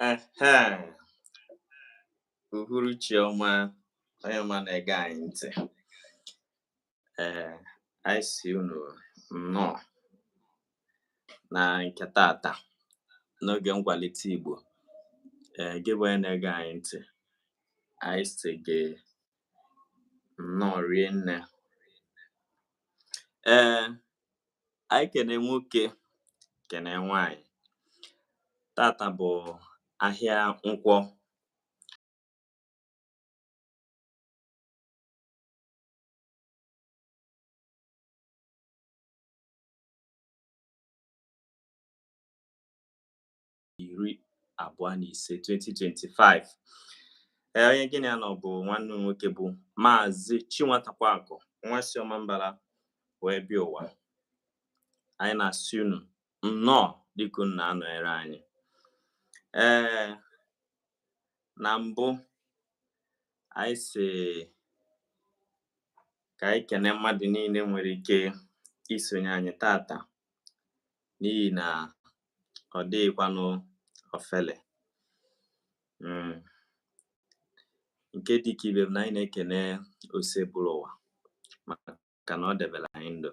Ehem, uhuruchi ọma onye ọma na-ege anyị ntị. Ee, anyị sị unu nnọọ na nke tata n'oge nkwalite Igbo. Ee, gị bụ onye na-ege anyị ntị, anyị sị gị nnọọ rie nne. Ee, Anyị kene nwoke kene nwaanyị tata bụ ahịa Nkwọ iri abụọ na ise 2025 ee onye gị na ya nọ bụ nwanne m nwoke bụ maazị Chinwatakwakụ nwa si Ọmambala wee bịa ụwa anyị na-asị unu nnọọ dịka unu na-anọnyere anyị ee na mbụ anyị sị ka anyị kene mmadụ niile nwere ike isonye anyị tata n'ihi na ọ dịghịkwanụ ofele mm. nke dị ka ibe m na anyị na-ekene Osebụrụwa maka na ọ debere anyị ndụ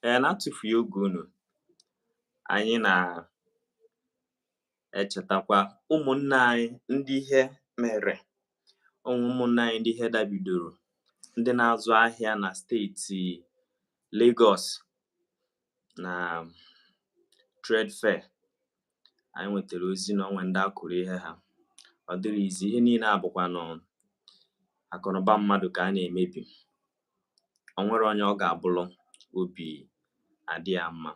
ee na-atụfughị oge unu anyị na-echetakwa ụmụnne anyị ndị ihe mere ụmụ ụmụnne anyị ndị ihe dabidoro ndị na-azụ ahịa na steeti Lagos na trade fair anyị nwetara ozi na o nwe ndị a kụrụ ihe ha ọ dịrọ easy ihe niile a bụkwanụ akụnụba mmadụ ka a na-emebi o nwere onye ọ ga-abụlụ obi adị ya mma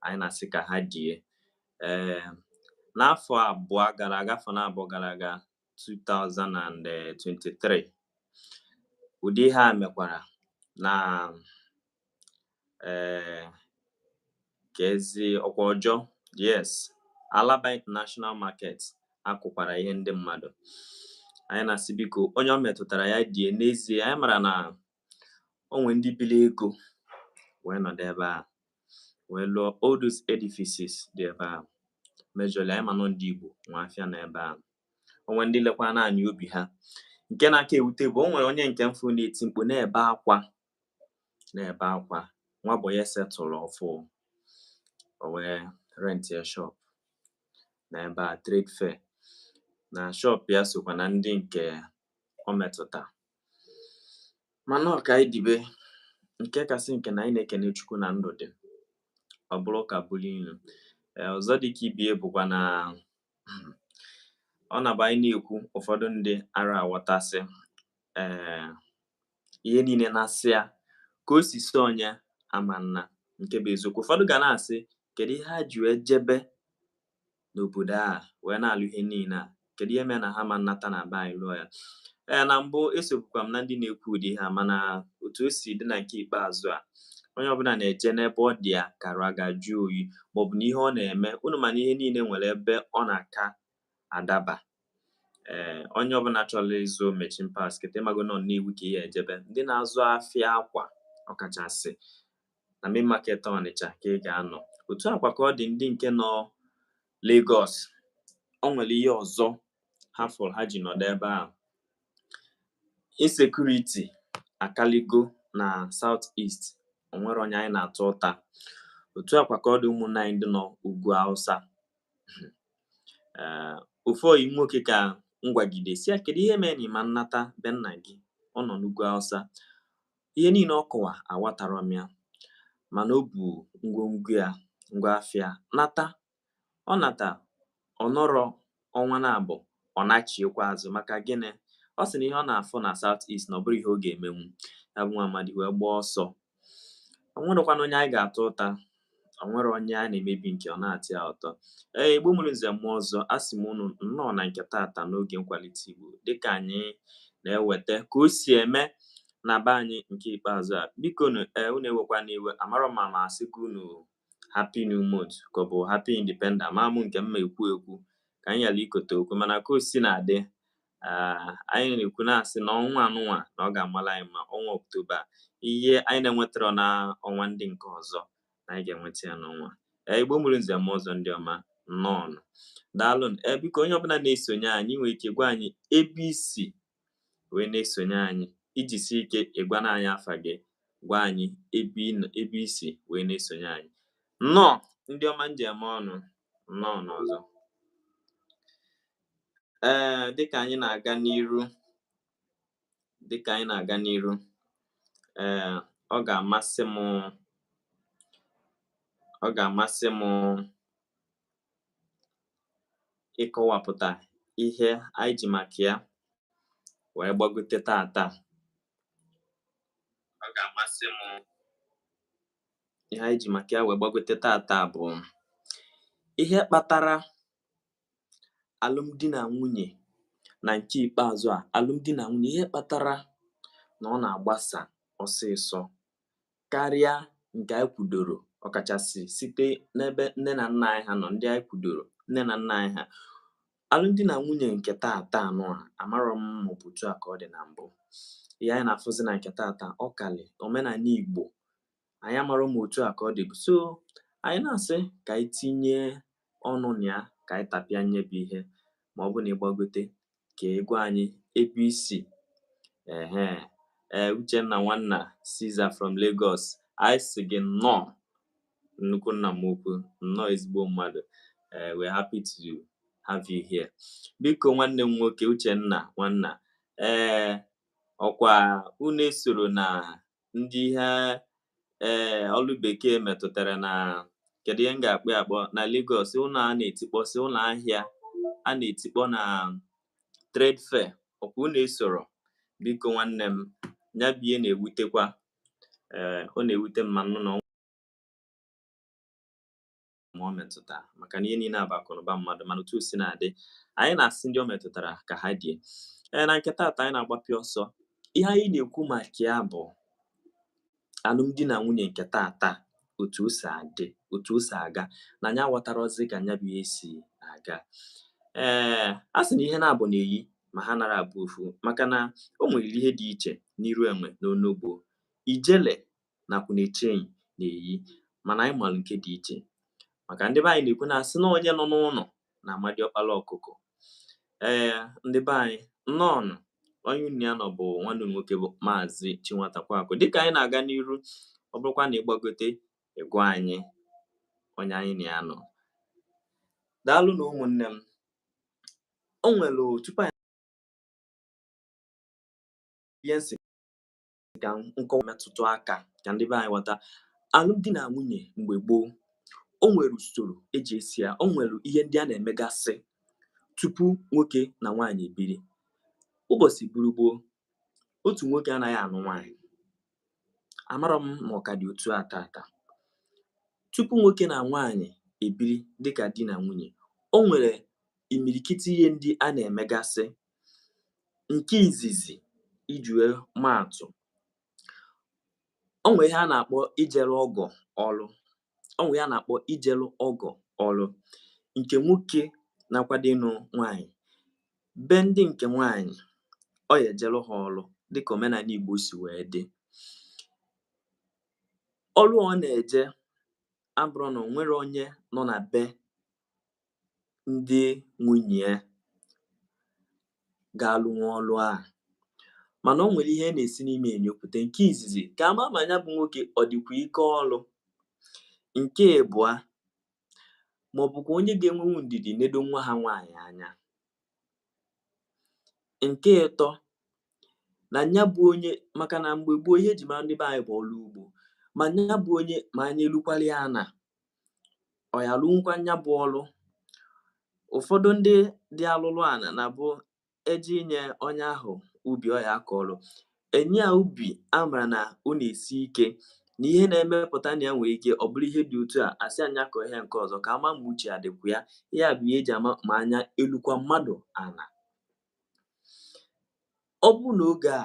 anyị na-asị ka ha die ee n'afọ abụọ gara aga afọ na abụọ gara aga 2023 ụdị ihe a mekwara na ee kezi ọ kwa Ojo yes Alaba International Market a kụkwara ihe ndị mmadụ anyị na-asị biko onye o metụtara ya die n'ezie anyị mara na o nwe ndị bili ego wee nọdụ ebe a wee lụọ all those edifices dị ebe a majorly anyị ma na ọ ndị Igbo nwe afịa na ebe a o nwe ndị lekwa naanị obi ha nke na-aka ewute bụ o nwere onye nke m fụ na-eti mkpu na-ebe akwa na-ebe akwa nwa boy ya settlelụ ọfụụ o wee rent ya shop na ebe a trade fair na shop ya sokwa na ndị nke o metụta mana ọ ka anyị dibe nke kasị nke na anyị na-ekene Chukwu na ndụ dị ọ bụrụ ụka bụrụ ilu ee ọzọ dịka ibe ya bụkwa na ọ na-abụ anyị na-ekwu ụfọdụ ndị ara aghọtasị ee ihe niile na-asị ya ka o si si onye ama nna nke bụ eziokwu ụfọdụ ga na-asị kedu ihe ha ji wee jebe n'obodo a wee na-alụ ihe niile a kedu ihe mere na ha ma nnata na be anyị lụọ ya ee eh, na mbụ esobukwa m na ndị na-ekwu ụdị ihe a mana otu o si dị na nke ikpeazụ a onye ọbụla na-eje n'ebe ọ dị ya ka arụ ya ga-ajụ oyi maọbụ na ihe ọ na-eme unu ma na ihe niile nwere ebe ọ na-aka adaba ee eh, onye ọbụla chọrọ ịzụ machine parts kịta ị mago na ọ Nnewi ka ị ya-ejebe ndị na-azụ afịa akwa ọkachasị na main market Ọnịcha ka ị ga-anọ otu a kwa ka ọ dị ndị nke nọ Lagos o nwere ihe ọzọ ha fụrụ ha ji nọdụ ebe ahụ insecurity akaligo na South East o nwere onye anyị na-ata ụta otu a kwa ka ọ dị ụmụnne anyị ndị nọ ugwu Hausa ee ofu ọyị m nwoke ka m gwagide sị ya kedu ihe mere na ị ma nnata be nna gị ọ nọ n'ugwu Hausa ihe niile ọ kọwa aghọtara m ya mana o bu ngwongwo ya ngwa afịa nata ọ nata ọ nọrọ ọnwa naabụọ ọ nachiekwa azụ maka gịnị ọ sị na ihe ọ na-afụ na South East na ọ bụrọ ihe ọ ga-emenwu ya bụ nwa amadi wee gbaa ọsọ o nwerekwana onye anyị ga-ata ụta o nwere onye a na-emebi nke ọ na-atọ ya ụtọ ee Igbo mụrụ nze mụọ ọzọ a sị m unu nnọọ na nke tata n'oge nkwalite Igbo dịka anyị na-eweta ka o si eme na be anyị nke ikpeazụ a biko nu ee unu ewekwana iwe amarọ m ma asịgo unu happy new month ka ọ bụ happy independent ama mụ nke m ma ekwu ekwu ka anyị ghara ikote okwu mana ka o si na-adị Ah, anyị na-ekwu na-asị na ọnwa anụnwa na ọ ga-amala anyị mma ọnwa Ọktoba ihe anyị na-enwetarọ na ọnwa ndị nke ọzọ na anyị ga-enweta ya n'ọnwa a eh, Igbo mụrụ nze mụọ ọzọ ndị ọma nnọọnụ daalụ ee eh, biko onye ọbụla na-esonye anyị nwere ike gwa anyị ebe i si wee na-esonye anyị i jisi ike ị gwana anyị afa gị gwa anyị ebe i si wee na-esonye anyị nnọọ ndị ọma m ji eme ọnụ nnọọnụ ọzọ ee dịka anyị na-aga n'iru dịka anyị na-aga n'iru ee ọ ga-amasị m ọ ga-amasị m ịkọwapụta ihe anyị ji maka ya wee gbagote tata ọ ga-amasị m ihe anyị ji maka ya wee gbagote tata bụ ihe kpatara alụmdi na nwunye na nke ikpeazụ a alụmdi na nwunye ihe kpatara na ọ na-agbasa ọsịsọ karịa nke anyị kwudoro ọkachasị site n'ebe nne na nna anyị ha nọ ndị anyị kwudoro nne na nna anyị ha alụmdi na nwunye nke taata anụ a amarọ m ma ọ bụ otu a ka ọ dị na mbụ ihe anyị na-afụzi na nke taata ọ kalị omenani igbo anyị amarọ ma ọ bụ otu a ka ọ dịbụ so anyị na-asị ka anyị tinye ọnụ na ya ka anyị tapịa nya bụ ihe ma ọ bụ na ị gbagote ka ị gwa anyị ebe i si ehe ee uchenna nwanna Caesar from Lagos anyị sị gị nnọọ nnukwu nna m ukwu nnọọ ezigbo mmadụ ee we're happy to have you here biko nwanne m nwoke uchenna nwanna ee ọkwa unu esoro na ndị ihe ee eh, ọlụ bekee metụtara na kedu ihe m ga-akpọ akpọ na Lagos ụlọ a na-etikpọsị ụlọ ahịa a na-etikpọ na trade fair ọkwa unu esoro biko nwanne m nya bụ ihe na-ewutekwa ee eh, ọ na-ewute m ma nụ na ma ọ metụta maka na ihe niile a bụ akụnụba mmadụ mana otu o si na-adị anyị na-asị ndị ọ metụtara ka ha die ee na nke taata anyị na-agbapị ọsọ ihe anyị na-ekwu maka ya bụ alụmdi na nwunye nke taata otu o si adị otu o si aga na anyị aghọtarọzi ka nya bụ ihe si aga ee a sị na ihe naabọ na-eyi ma ha anarọ abụ ofu maka na o nwere ihe dị iche n'iru enwe na onogbo ijele na Akwụnechenyi na-eyi mana anyị malụ nke dị iche maka ndị be anyị na-ekwu na asị na onye nọ n'ụnọ na-ama diọkpala ọkụkọ ee ndị be anyị nnọọnụ onye unu na ya nọ bụ nwanne nwoke bụ maazị Chinwatakwaakụ dịka anyị na-aga n'iru ọ bụrụkwa na ị gbagote ị gwa anyị onye anyị na ya nọ daalụnụ ụmụnne m o nwere tupu anyị ihe ka m kọwa metụtụ aka ka ndị be anyị ghọta alụmdi na nwunye mgbe gboo o nwere usoro e ji eso ya o nwere ihe ndị a na-emegasị tupu nwoke na nwaanyị ebiri ụbọsị buru gboo otu nwoke anaghị anụ nwaanyị amarọ m ma ọ ka dị otu a taata tupu nwoke na nwaanyị ebiri dịka di na nwunye o nwere imirikiti ihe ndị a na-emegasị Nke izizi iji wee maa atụ, o nwee ihe a na-akpọ ijere ọgọ ọrụ o nwee ihe a na-akpọ ijere ọgọ ọrụ nke nwoke na-akwado ịnụ nwaanyị be ndị nke nwaanyị ọ ya-ejere ha ọrụ dịka omenani Igbo si wee dị. Ọrụ a ọ na-eje abụrọ na o nwere onye nọ na be ndị nwunye ya ga-alụnwu ọlụ a mana o nwere ihe na-esi n'ime enyopụta nke izizi ka a ma ma nya bụ nwoke ọ dịkwa ike ọlụ nke ịbụa ma ọ bụkwa onye ga-enwenwu ndidi nedo nwa ha nwaanyị anya nke ịtọ na nya bụ onye maka na mgbe gboo ihe e ji mara ndị be anyị bụ ọlụ ugbo ma nya bụ onye ma anya elukwala ya ana ọ ya arụnwukwa ya bụ ọrụ ụfọdụ ndị dị alụlụ ana na bụ eji inye onye ahụ ubi ọ ya akọ ọrụ e nye ya ubi a mara na ọ na-esi ike na ihe na-emepụta na ya nwere ike ọ bụrụ ihe dị otu a a sị nya kọọ ihe nke ọzọ ka a ma ma uche ya dịkwa ya ya bụ ihe e ji ama ma anya elukwa mmadụ ana ọ bụrụ na oge a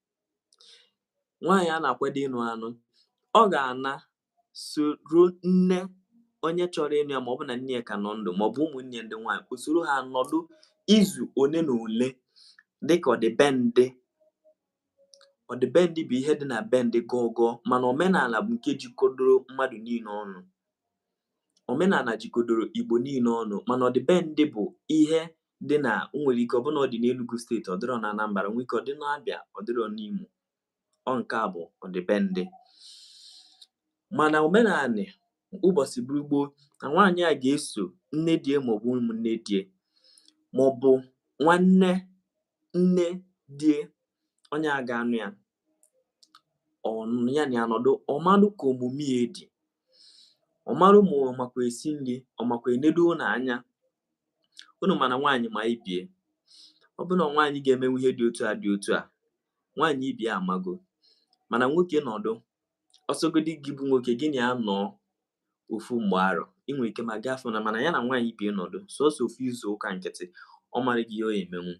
nwaanyị a na-akwado ịnụ anụ ọ ga-ana soro nne onye chọrọ ịnụ ya ma ọ bụ na nne ya ka nọ ndụ ma ọ bụ ụmụnne ndị nwaanyị o soro ha nọdụ izu one na ole dịka ọdịbendị ọdịbendị bụ ihe dị na be ndị gọgọ mana omenana bụ nke jikodoro mmadụ niile ọnụ omenana jikodoro igbo niile ọnụ mana ọdịbendị bụ ihe dị na o nwere ike ọ bụ na ọ dị n'Enugu steeti ọ dịrọ na Anambra nwee ike ọ dị n'Abịa ọ dịrọ n'Imo ọ nke a bụ ọdịbendị mana omenanị ụbọsị bụrụ gboo na nwaanyị a ga-eso nne die ma ọ bụ ụmụnne die ma ọ bụ nwanne nne die onye a ga-anụ ya ya na ya nọdụ ọ malụ ka omume ya dị ọ malụ ma ọ makwa esi nri ọ makwa enedo ụnọ anya unu ma na nwaanyị ma ibie ọ bụrụ na nwaanyị ga-emenwu ihe dị otu a dị otu a nwaanyị ibie amago mana nwoke nọdụ ọ sọgodi gị bụ nwoke gị na ya nọọ ofu mgbe arọ ị nwere ike ma ga-afụ na mana ya na nwaanyị ibie nọdụ sọsọ ofu izu ụka nkịtị ọ mara gị ihe ọ emenwu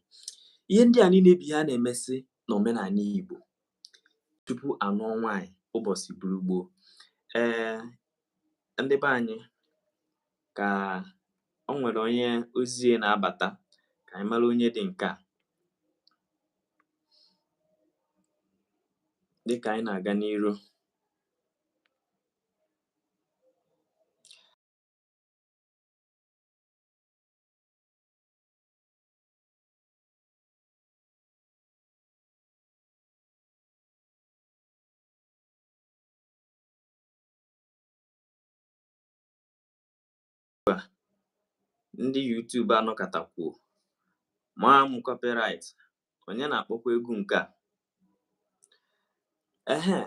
ihe ndị a niile bụ ihe a na-emesị na omenanị Igbo tupu a nụọ nwaanyị ụbọsị bụrụ gboo ee ndị be anyị ka o nwere onye ozie na-abata ka anyị mara onye dị nke a dịka anyị na-aga n'iru ndị YouTube anọkatakwuo maa m copyright onye na-akpọkwa egwu nke a ehe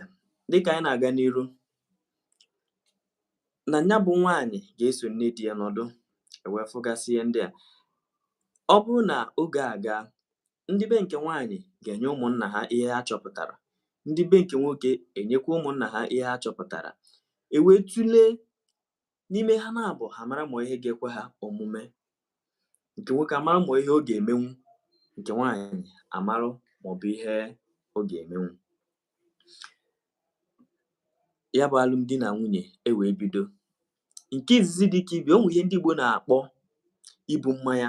dịka anyị na-aga n'iru na ya bụ nwaanyị ga-eso nne di ya nọdụ ewee fụgasị ihe ndị a ọ bụrụ na oge a gaa ndị be nke nwaanyị ga-enye ụmụnna ha ihe ha chọpụtara ndị be nke nwoke enyekwa ụmụnna ha ihe ha chọpụtara e wee tụlee n'ime ha naabọ amara ma ihe ga-ekwe ha omume nke nwoke amara ma ihe ọ ga-emenwu nke nwaanyị amarụ ma ọ bụ ihe ọ ga-emenwu ya bụ alụmdi na nwunye e wee bido nke izizi dị ka ibi o nwere ihe ndị Igbo na-akpọ ibu mmanya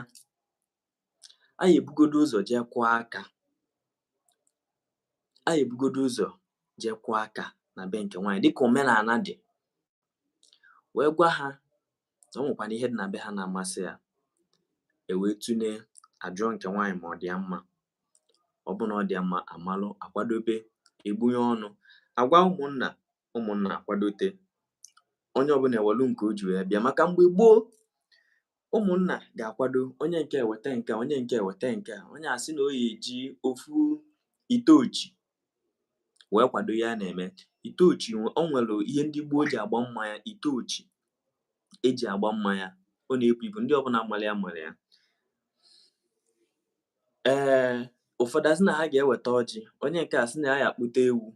Anyị ebugodu ụzọ jee kụọ aka anyị ebugodu ụzọ jee kụọ aka na be nke nwaanyị dịka omenala dị wee gwa ha na o nwekwanụ ihe dị na be ha na-amasị ya e wee tụlee ajụọ nke nwaanyị ma ọ dị ya mma ọ bụ na ọ dị ya mma amalụ akwadobe egbunye ọnụ agwa ụmụnna ụmụnna akwadote onye ọbụla ewelu nke o ji wee bịa maka mgbe gboo ụmụnna ga-akwado onye nke eweta nke a onye nke eweta nke a onye asị na ọ ya-eji ofu ite ochi wee kwado ya na-eme ite ochi o nwere ihe ndị gboo ji agba mmanya ite ochi eji agba mmanya ọ na-ebu ibu ndị ọbụla mara ya mara ya ee ụfọdụ asị na ha ga-eweta ọjị onye nke asị na ya ya akpụta ewu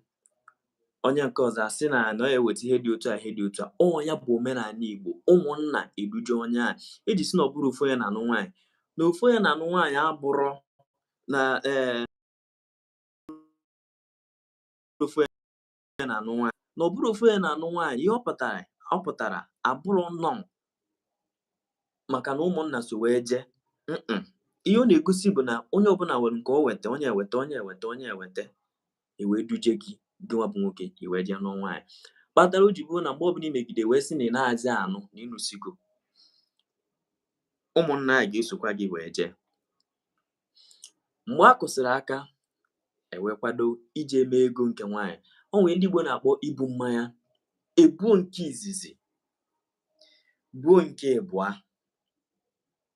onye nke ọzọ asị na na ya eweta ihe dị otu a ihe dị otu a ọ ya bụ omenala Igbo ụmụnna eduje onye a eji sị na ọ bụrọ ofu onye na-anụ nwaanyị na ofu onye na-anụ nwaanyị abụrọ na ee eh, ofu onye na-anụ nwaanyị na ọ bụrọ ofu onye na-anụ nwaanyị ihe ọ pụtara abụrọ nnọọ maka na ụmụnna so wee jee ihe ọ na-egosi bụ na onye ọbụla nwere nke o weta onye eweta onye eweta onye eweta e wee duje gị gịnwa bụ nwoke i wee jee nụọ nwaanyị kpatara o ji bụrụ na mgbe ọbụla i megide wee sị na ị naazị anụ na ị nụsigo ụmụnna a ga-esokwa gị wee jee mgbe a kụsịrị aka ewee kwado ije eme ego nke nwaanyị o nwere ihe ndị Igbo na-akpọ ibu mmanya ebuo nke izizi buo nke ịbụa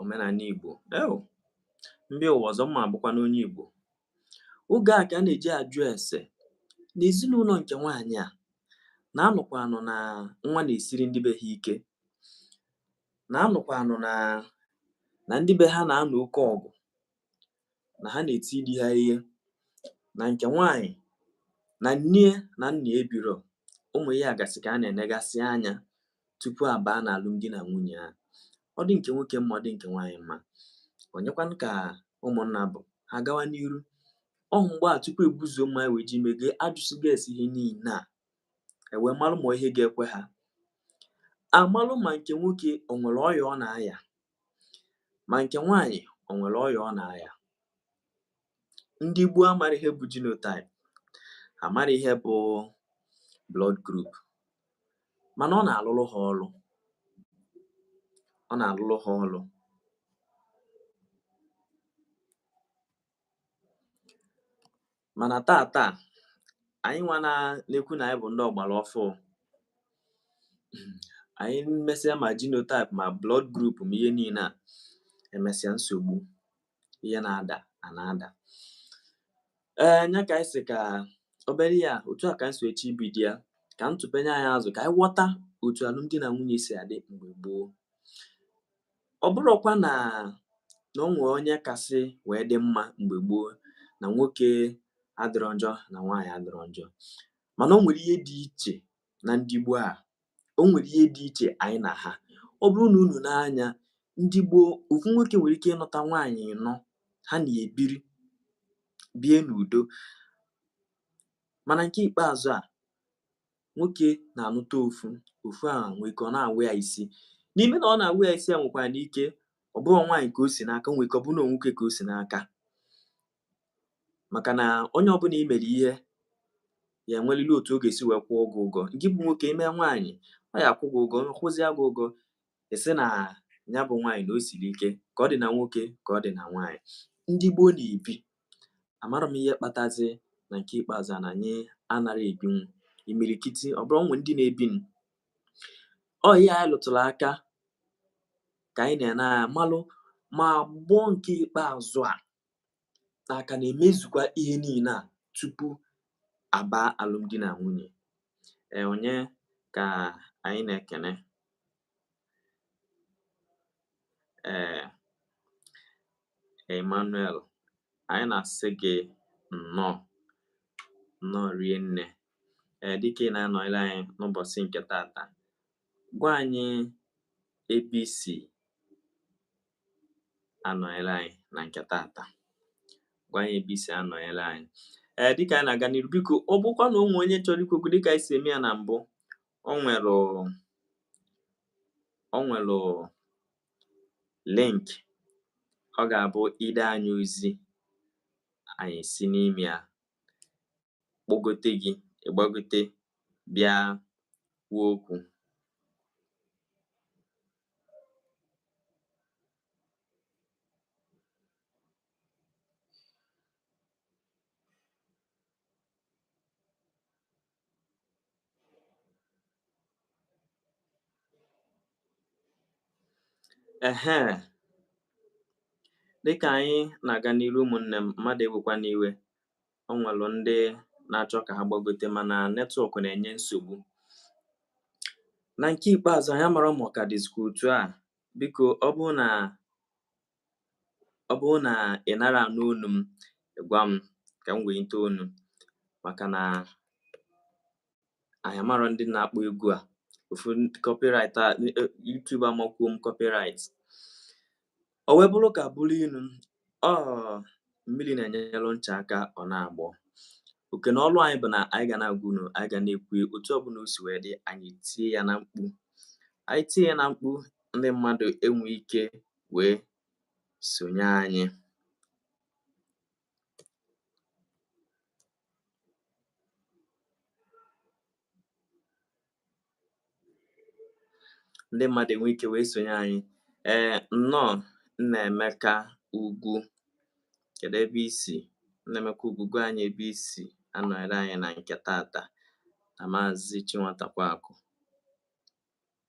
omenala Igbo eo m bịa ụwa ọzọ mma abụkwanụ onye Igbo oge a ka a na-eji ajụ ese n'ezinụlọ nke nwaanyị a na-anụkwa anụ na nwa na-esiri ndị be ha ike na-anụkwa anụ na ndị be ha na-anụ oke ọgụ na ha na-eti di ha ihe na nke nwaanyị na nne na nna ebiro ụmụ ihe gasị ka a na-enegasị anya tupu a baa n'alụmdi na nwunye a ọ dị nke nwoke mma ọ dị nke nwaanyị mma onyekwanụ ka ụmụnna bụ ha gawa n'iru ọ mgbe a tupu ebuzuo mma wee ji mege ajụsịgo ese ihe niile a ewee malụ ma ihe ga-ekwe ha amalụ ma nke nwoke o nwere ọya ọ na-aya Ma nke nwaanyị o nwere ọya ọ na-aya? Ndị gboo amara ihe bụ genotype, amara ihe bụ blood group, mana ọ na-alụrụ ha ọrụ ọ na-alụrụ ha ọrụ mana tata anyị nwa na-ekwu na anyị bụ ndị ọgbara ọfụụ anyị mesịa ma genotype ma blood group ma ihe niile a emesịa nsogbu ihe na-ada a na-ada ee nya ka anyị si ka obere ya otu a ka anyị si eche ibido ya ka m tụpenye anyị azụ ka anyị ghọta otu alụmdi na nwunye si adị mgbe gboo ọ bụrọkwa na na o nwee onye kasị wee dị mma mgbe gboo na nwoke adịrọ njọ na nwaanyị adịrọ njọ mana o nwere ihe dị iche na ndị gboo a o nwere ihe dị iche anyị na ha ọ bụrụ na unu nee anya ndị gboo ofu nwoke nwere ike ịnụta nwaanyị ịnọ ha na-ebiri bie n'udo mana nke ikpeazụ a nwoke na-anụta ofu ofu a nwee ike ọ na-awa ya isi n'ime na ọ na-awa ya isi a nwekwanụ ike ọ bụrụ nwaanyị ka o si n'aka nwee ike ọ bụrụ na nwoke ka o si n'aka maka na onye ọbụla i mere ihe ya enwelili otu ọ ga-esi wee kwụọ gị ụgwọ gị bụ nwoke i mee nwaanyị ọ ya-akwụ gị ụgwọ kwụzịa gị ụgwọ ị sị na ya bụ nwaanyị na o siri ike ka ọ dị na nwoke ka ọ dị na nwaanyị ndị gboo na-ebi Amarọ m ihe kpatazi na nke ikpeazụ a na anyị anara ebinwu imirikiti ọ bụrụ o nwee ndị na-ebinụ. Ọ ihe anyị lụtụrụ aka ka anyị na-ene anya malụ ma agbọ nke ikpeazụ a na a ka na-emezukwa ihe niile a tupu a baa alụmdi na nwunye. Ee, onye ka anyị na-ekene? ee Emmanuel anyị na-asị gị nnọọ nnọọ rie nne ee dịka ị na-anọnyere anyị n'ụbọchị nke tata gwa anyị ebe i si anọnyere anyị na nke tata gwa anyị ebe i si anọnyere anyị ee dịka anyị na-aga n'iru biko ọ bụkwa na o nwee onye chọrọ ikwu okwu dịka anyị si eme ya na mbụ o nwere o nwere link ọ ga-abụ i de anyị ozi anyị si n'ime ya kpọgote gị ị gbagote bịa kwuo okwu Ehe. Dịka anyị na-aga n'iru ụmụnne m, mmadụ ewekwa n'iwe. O nwere ndị na-achọ ka ha gbagote mana netwọk na-enye nsogbu. Na nke ikpeazụ anyị amara ma ọ ka dịzikwa otu a. Biko ọ bụrụ na ọ bụrụ na ị nara anụ onu m gwa m ka m wenite onu maka na anyị amarọ ndị na-akpọ egwu a ofu copyright a e, e, YouTube amakwuo m copyright o wee bụrụ ụka bụrụ inu ọ mmiri na-enyelụ ncha aka ọ na-agbọ oke na ọlụ anyị bụ na anyị ga na-agwa unu anyị ga na-ekwu otu ọbụla o si wee dị anyị etie ya na mkpu anyị tie ya na mkpu ndị mmadụ enwe ike wee sonye anyị. Ndị mmadụ enwe ike wee sonye anyị. Ee, nnọọ Nnaemeka Ugwu. Kedu ebe i si? Nnaemeka Ugwu, gwa anyị ebe i si anọnyere anyị na nke tata na Maazị Chinwatakweakụ.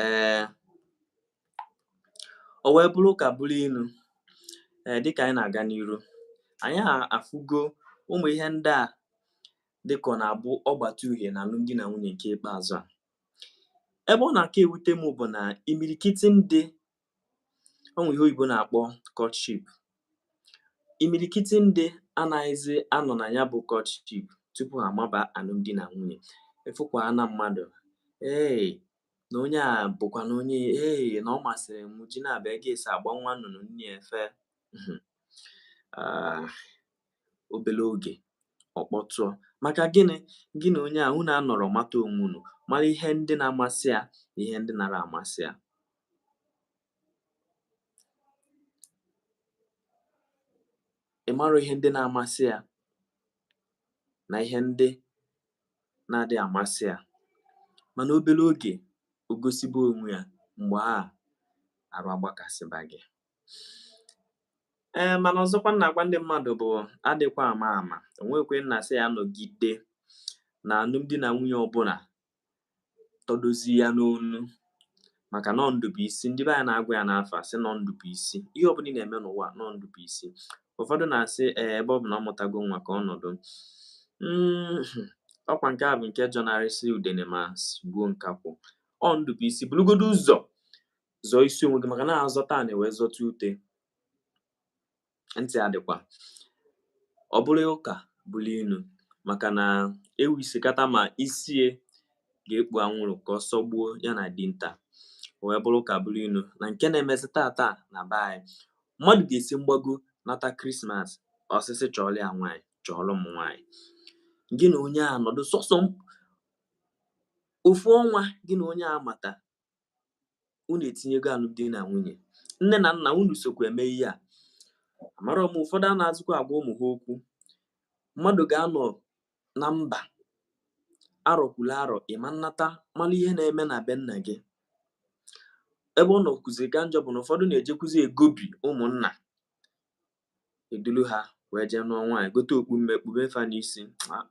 Ee, o wee bụrụ ụka bụrụ inu ee dịka anyị na-aga n'iru anyị afụgo ụmụ ihe ndị a dịka ọ na-abụ ọgbata uhie na alụmdi na nwunye nke ikpeazụ a ebe ọ na-aka ewute m bụ na imirikiti ndị o nwere ihe oyibo na-akpọ courtship imirikiti ndị anaghịzi anọ na ya bụ courtship tupu ha amaba alụmdi na nwunye ị fụkwa na mmadụ ee na onye a bụkwa na onye ee na ọ masịrị m ji na-abịa gị esi agba nwa nnụnụ nne efe hmm. ah, obere oge ọ kpọtụọ maka gịnị gị na onye a unu anọrọ mata onwe unu mara ihe ndị na-amasị ya na ihe ndị nara amasị ya ị mara ihe ndị na-amasị ya na ihe ndị na-adị amasị ya mana obere oge o gosibe onwe ya mgbe a arụ agbakasịba gị ee mana ọzọkwa m na-agwa ndị mmadụ bụ adịkwa ama ama onye ekwena sị ya nọgide na alụmdi na nwunye ọbụla tọdozi ya n'onu maka na ọ ndụ bụ isi ndị be anyị na-agwa ya n'afa sị na ọ ndụ bụ isi ihe ọbụla ị na-eme n'ụwa na ọ ndụ bụ isi ụfọdụ na-asị ee ebe ọ bụ na ọ mụtago nwa ka ọ nọdụ hmm, ọkwa nke a bụ nke jọnarịsị udene ma sigbuo nkakwụ ọ ndụ bụ isi burugodo ụzọ zọọ isi onwe gị maka na a zọta ana e wee zọta ute ntị adịkwa ọ bụrụ ụka bụrụ inu maka na ewi sị kata ma isi ya ga-ekpu anwụrụ ka ọsọ gbuo ya na dinta wee bụrụ ụka bụrụ inu na nke na-emezi taata na be anyị mmadụ ga-esi mgbago nata krismas ọ sị sị chọọlụ ya nwaanyị chọọlụ m nwaanyị gị na onye a nọdụ sọsọ ofu ọnwa gị na onye a mata unu etinyego alụmdi na nwunye nne na nna unu sokwa eme ihe a amara m ụfọdụ anazịkwa agwa ụmụ ha okwu mmadụ ga-anọ na mba arọ kwuru arọ ị ma nnata mara ihe na-eme na be nna gị ebe ọ nọkwuziri ka njọ bụ na ụfọdụ na-ejekwuzi egobi ụmụnna eduru ha wee jee nụọ nwaanyị gote okpu mme kpube fa n'isi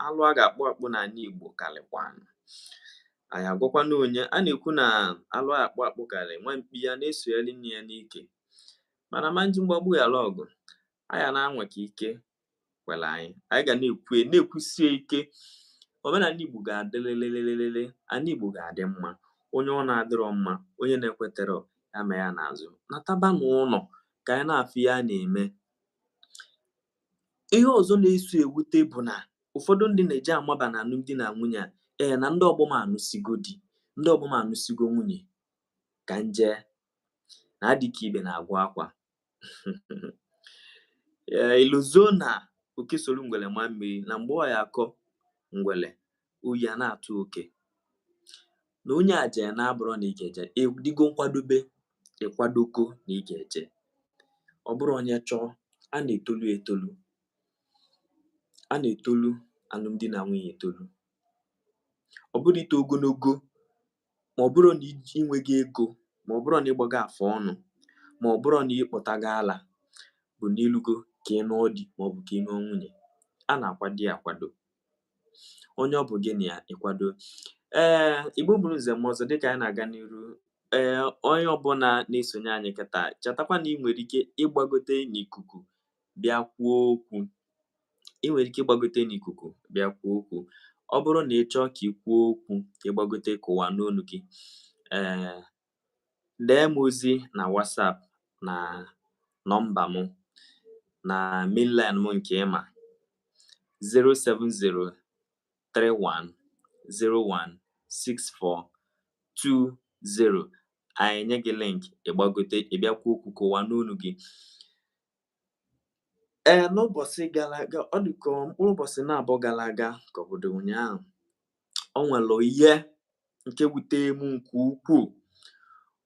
alụ a ga-akpụ akpụ n'ala Igbo karịkwanụ anyị agwakwana onye a na-ekwu na alụ a akpụ akpụ karị nwa mkpi ya na-esogheri nne ya n'ike mana a ma nji mgbagbu ghara ọgụ anyị na-anwa ka ike kwere anyị anyị ga na-ekwu na-ekwusie ike omenala Igbo ga-adịlịlịlịlịlị ala Igbo ga-adị mma onye ọ na-adịrọ mma onye na-ekwetarọ ya ma ya n'azụ nataba n'ụlọ ka anyị na-afụ ihe a na-eme ihe ọzọ na-eso ewute bụ na ụfọdụ ndị na-eji amaba na alụmdi na nwunye a ee na ndị ọgbọ m anụsigo di ndị ọgbọ m anụsigo nwunye ka m jee na adị ka ibe na-agwụ akwa ee i lozo na oke soro ngwele ma mmiri na mgbe ọ ya akọ ngwele oyi a na-atụ oke na onye ajena abụrọ na ị ga-eje ị dịgo nkwadobe ị kwadogo na ị ga-eje ọ bụrọ onye chọọ a na-etolu etolu a na-etolu alụmdi na nwunye etolu ọ bụrọ ito ogologo ma ọ bụrụ na ị nweghị ego ma ọ bụrụ na ịgbago afọ ọnụ ma ọ bụrụ na ịkpọtago ala bụ n'ilugo ka ị nụọ di ma ọ bụ ka ị nụọ nwunye a na-akwado ya akwado onye ọ bụ gị na ya ịkwado ee igbo bụrụ nze m ọzọ dịka anyị na-aga n'iru ee onye ọbụla na-esonye anyị kịta chetakwa na ị nwere ike ịgbagote n'ikuku bịa kwuo okwu ị nwere ike ịgbagote n'ikuku bịa kwuo okwu ọ bụrụ na ị chọọ ka ị kwuo okwu ka ịgbagote ka ụwa nụ onu gị ee dee m ozi na WhatsApp na nọmba m na mainline m nke ịma 070 31 01 64 20 anyị enye gị link ịgbagote ịbịa kwuo okwu ka ụwa nụ onu gị ee n'ụbọchị gara aga ọ dị ka mkpụrụ ụbọchị naabọ gara aga ka ọ bụdụ ụnyaahụ ọ nwere ihe nke wute m nke ukwuu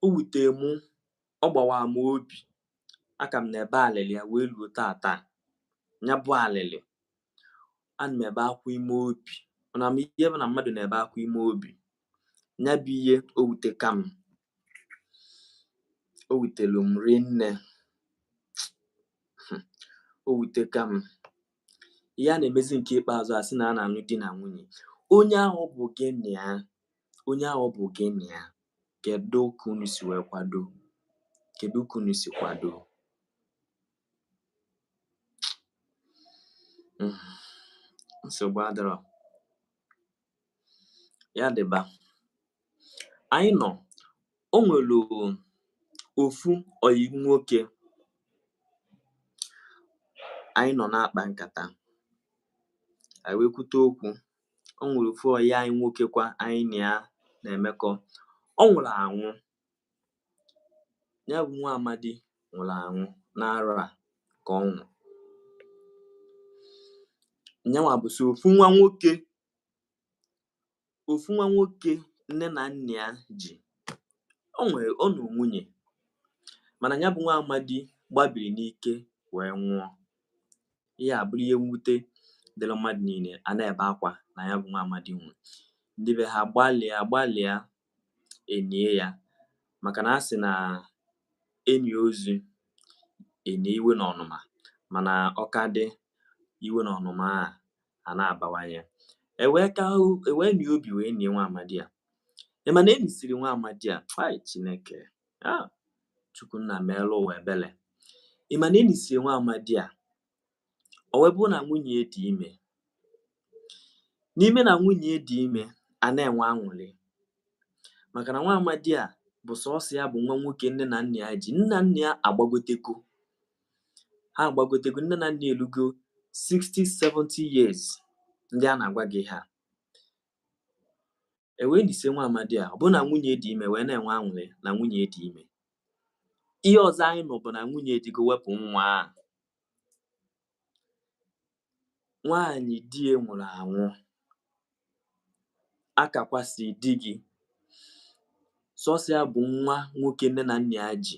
o wute m ọ gbawa m obi aka m na-ebe alịlị ya wee luo tata nya bụ alịlị ana m ebe akwa ime obi unu ma ihe bụ na mmadụ na-ebe akwa ime obi nya bụ ihe o wuteka m o wutelu m rinne o wuteka m ihe a na-emezi nke ikpeazụ a sị na a na-anụ di na nwunye onye ahụ bụ gị na ya onye ahụ bụ gị na ya kedu ka unu si wee kwado kedu ka unu si kwado Mm. nsogbu adịrọ ya dịba anyị nọ o nwere ofu ọyị nwoke anyị nọ na-akpa nkata anyị wee kwute okwu o nwere ofu ọyị anyị nwoke kwa anyị na ya na-emekọ ọ nwụrụ anwụ nya bụ nwa amadi nwụrụ anwụ n'arọ a ka ọ nwụrụ nyanwa bụ so ofu nwa nwoke ofu nwa nwoke nne na nna ya ji ọ nụọ nwunye mana nya bụ nwa amadi gbabiri n'ike wee nwụọ ihe a bụrụ ihe mwute dịrị mmadụ niile a na-ebe akwa na nya bụ nwa amadi nwụrụ ndị be ha gbalịa gbalịa enie ya maka na a sị na enie ozu enie iwe na ọnụma mana ọ ka dị iwe na ọnụma a a na-abawanye ewee ka ewee nie obi wee nie nwa amadi a ị ma na enisiri nwa amadi a ai chineke a chukwu nna meelu ụwa ebele ị ma na enisiri nwa amadi a o wee bụ na nwunye ya dị ime n'ime na nwunye ya dị ime a na-enwe aṅụrị maka na nwa amadi a bụ sọsọ ya bụ nwa nwoke nne na nna ya ji nne na nna ya agbagotego ha agbagotego nne na nna ya elugo 60 70 years ndị a na-agwa gị ha e wee nisie nwa amadi a ọ bụ na nwunye dị ime wee na-enwe anwụrị na nwunye dị ime ihe ọzọ anyị nụ bụ na nwunye jego wepụ nwa a nwaanyị di ya nwụrụ anwụ a ka kwasị di gị sọsọ ya bụ nwa nwoke nne na nna ya ji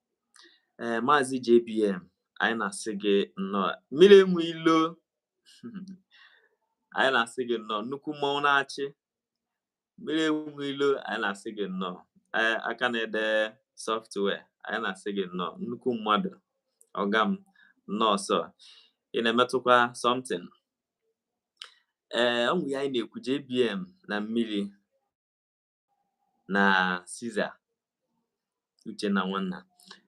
ee eh, maazị JBM anyị na-asị gị nnọọ mmiri enwe ilo anyị na-asị gị nnọọ nnukwu mmọnwụ na-achị mmiri enwe ilo anyị na-asị gị nnọọ eh, aka na-ede software anyị na-asị gị nnọọ nnukwu mmadụ ọga m nnọọ sir ị na-emetụkwa something ee eh, ọnwụ ya anyị na-ekwu JBM na mmiri na Caesar Uchenna Nwanna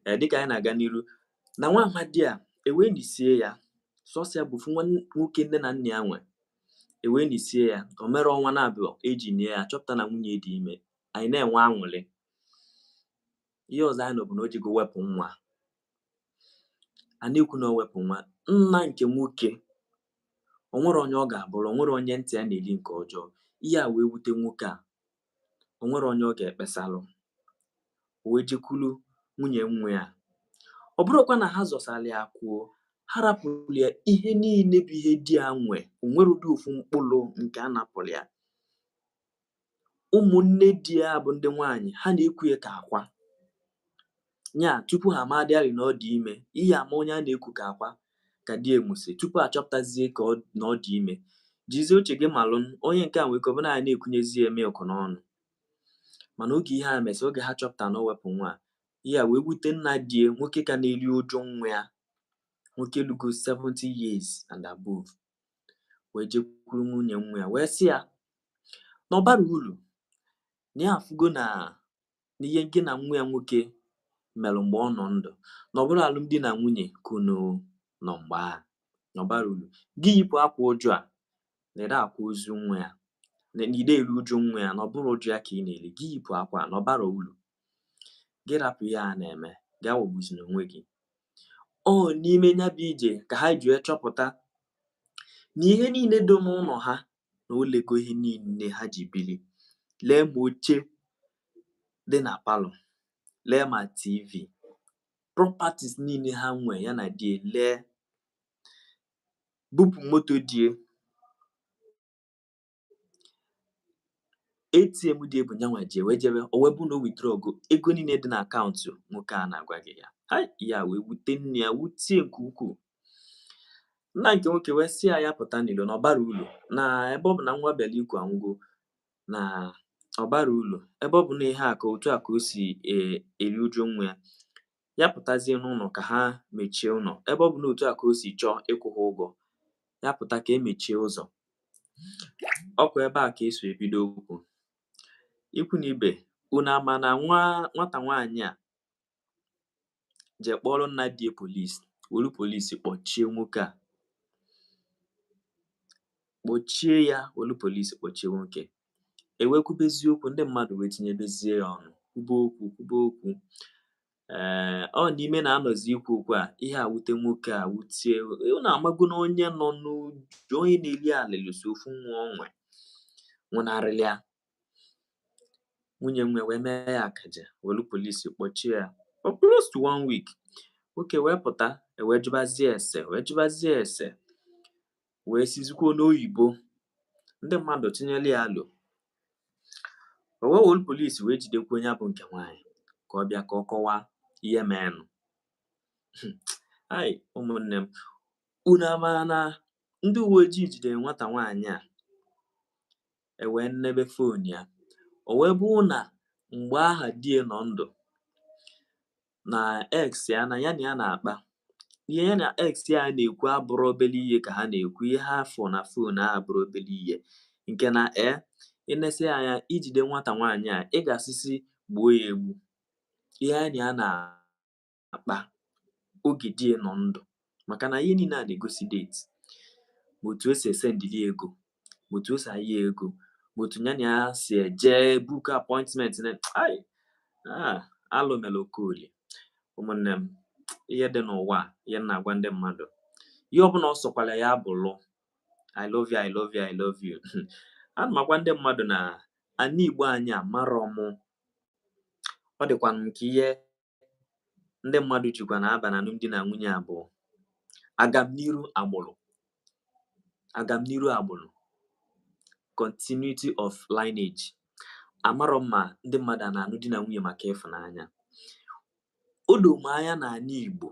ee eh, dịka anyị na-aga n'iru na nwa amadi a e wee nisie ya sọsọ ya bụfu nwa nwoke nne na nna ya nwe e wee nisie ya o mere ọnwa n'abụọ e ji nie ya a chọpụta na nwunye dị ime anyị na-enwe anwụlị ihe ọzọ anyị nụ bụ na o jego wepụ nwa a na-ekwu na o wepụ nwa nna nke nwoke o nwere onye ọ ga-abụrụ o nwere onye ntị ya na-eri nke ọjọọ ihe a wee wute nwoke a o nwerọ onye ọ ga-ekpesalụ o wee jekwuru nwunye nwa ya ọ bụrọkwa na ha zọsara ya akụ o ha rapụrụ ya ihe niile bụ ihe di ya nwe o nwerọdị ofu mkpụrụ nke a napụrụ ya ụmụnne di ya bụ ndị nwaanyị ha na-eku ya ka akwa nya tupu ha amadịarị na ọ dị ime ihe ama onye a na-eku ka akwa ka di ya nwụsị tupu a chọpụtazie ka ọ na ọ dị ime jizie uche gị malụ n- onye nke a nwere ike ọ bụ na ya na-ekunyezi ya milk n'ọnụ mana oge ihe a mesị oge ha chọpụta na o wepụ nwa a, ihe a wee wute nna di ya nwoke ka na-eri uju nwa ya nwoke lugo 70 years and above wee jekwuru nwunye nwa ya wee sị ya na ọ bara uru na ya afụgo na n'ihe gị na nwa ya nwoke mere mgbe ọ nọ ndụ na ọ bụrọ alụmdi na nwunye ka unu nọ mgbe a na ọ bara uru gị yipụ akwa uju a na ide akwa ozu nwa ya na ide eru uju nwa ya na ọ bụrọ uju ya ka ị na-eri gị yipụ akwa na ọ bara uru gị rapụ ihe a na-eme gị awọgbuzina onwe gị ọ n'ime nya bụ ije ka ha ji wee chọpụta na ihe niile dị n'ụnọ ha na o lego ihe niile ha ji bili lee ma oche dị na palọ lee ma tv properties niile ha nwe ya na die lee bupụ moto die ATM die bụ nyanwa ji wee jebe o wee bụ na o withdraw go ego niile dị na akaụntụ nwoke a na-agwa gị ya hai ya wee wute nna ya wutie nke ukwuu nna nke nwoke wee sị ya ya pụta n'ilo na ọ bara ulu na ebe ọ bụ na nwa bịara ikwu anwụgo na ọ bara ulu ebe ọ bụ na ihe a ka otu a ka o si eri uju nwa ya ya pụtazie n'ụnọ ka ha mechie ụlọ ebe ọ bụ n'otu a ka o si chọọ ịkwụ ha ụgwọ ya pụta ka emechie ụzọ ọkwa ebe a ka eso ebido okwu ikwu na ibe unu ama na nwa nwata nwaanyị a je kpọọrọ nna di ya polisi wolu polisi kpọchie nwoke a kpọchie ya wolu polisi kpọchie nwoke e wee kwubezie okwu ndị mmadụ wee tinyebezie ya ọnụ kwube okwu kwube okwu ee ọ n'ime na-anọzi ikwu okwu a ihe a wute nwoke a wutie unu amago na onye nọ n'uju onye na-eli alịlị sọ ofu nwa o nwe nwụnarịrị ya nwunye nwa wee mee ya akaja welu polisi kpọchie ya for close to one week nwoke wee pụta ewee jụbazie ese wee jụbazie ese wee sizikwuo n'oyibo ndị mmadụ tụnyere ya alo o wee wolu polisi wee jidekwuo onye bụ nke nwaanyị ka ọ bịa ka ọ kọwaa ihe meenụ hai ụmụnne m unu ama na ndị uwe ojii jidere nwata nwaanyị a ewee nnebe fon ya o wee bụ na mgbe aha die nọ ndụ na ex ya na ya na ya na-akpa ihe ya na ex ya na-ekwu abụrụ obele ihe ka ha na-ekwu ihe ha fụ na fon a abụrụ obele ihe nke na e ị nesi anya i jide nwata nwaanyị a ị ga-asị sị gbuo ya egbu ihe ya na ya na-akpa oge di ya nọ ndụ maka na ihe niile a na-egosi date ma otu o si esendili ego ma otu o si ayọ ya ego ma otu ya na ya si eje book appointment na hai ah, alụ mere Okolie ụmụnne m ihe dị n'ụwa a, ihe m na-agwa ndị mmadụ ihe ọbụla ọ sọkwala ya bụlụ i love you i love you i love you ana m agwa ndị mmadụ na ana igbo anyị amarọ mụ ọ dịkwa m ka ihe ndị mmadụ jikwa na-aba na alụmdi na nwunye a bụ agamniru agbụrụ agamniru agbụrụ continuity of lineage amarọ m ma ndị mmadụ a na-alụ di na nwunye maka ịfụnanya o doo m anya n'anị Igbo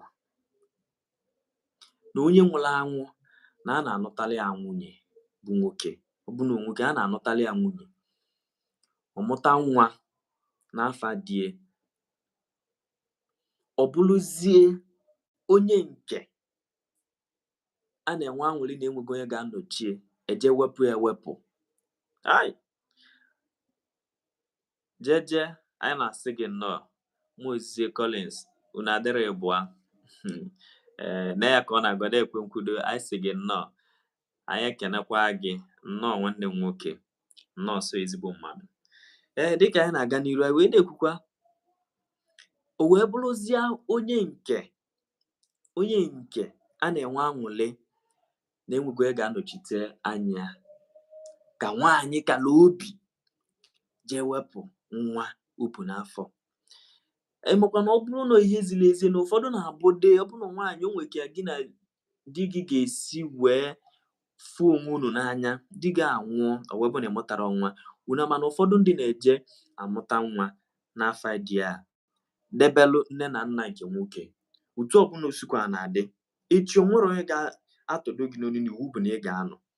na onye nwụrụ anwụ na a na-anụtali ya nwunye bụ nwoke ọ bụ na nwoke a na-anụtali ya nwunye ọ mụta nwa n'afa di e ọ bụrụzie onye nke a na-enwe anwụrị na enwego onye ga-anọchie e je wepụ ya ewepụ ai jeje anyị na-asị gị nnọọ Muozie Collins unu adịrị ịbụa ee eh, na ya ka ọ na-agwa na-ekwe nkwudo anyị sị gị nnọọ anyị ekenekwa gị nnọọ nwanne m nwoke nnọọ so ezigbo mmadụ ee dịka anyị na-aga n'iru anyị wee na-ekwukwa o wee bụrụzie onye nke onye nke a na-enwe anwụlị na enwego onye ga-anọchite anya ka nwaanyị kala obi jee wepụ nwa o bu n'afọ ịmakwa na ọ bụrụ na ihe ziri ezi na ụfọdụ na-abụ de ọ bụrụ na nwaanyị o nwere ka gị na di gị ga-esi wee fụ onwe unu n'anya di gị anwụọ ọ wee bụ na ịmụtarọ nwa unu ama na ụfọdụ ndị na-eje amụta nwa n'afa di ya debelụ nne na nna nke nwoke otu ọbụla o sikwa na-adị echi o nwerọ onye ga-atọdo gị n'onu na iwu bụ na ị ga-anọ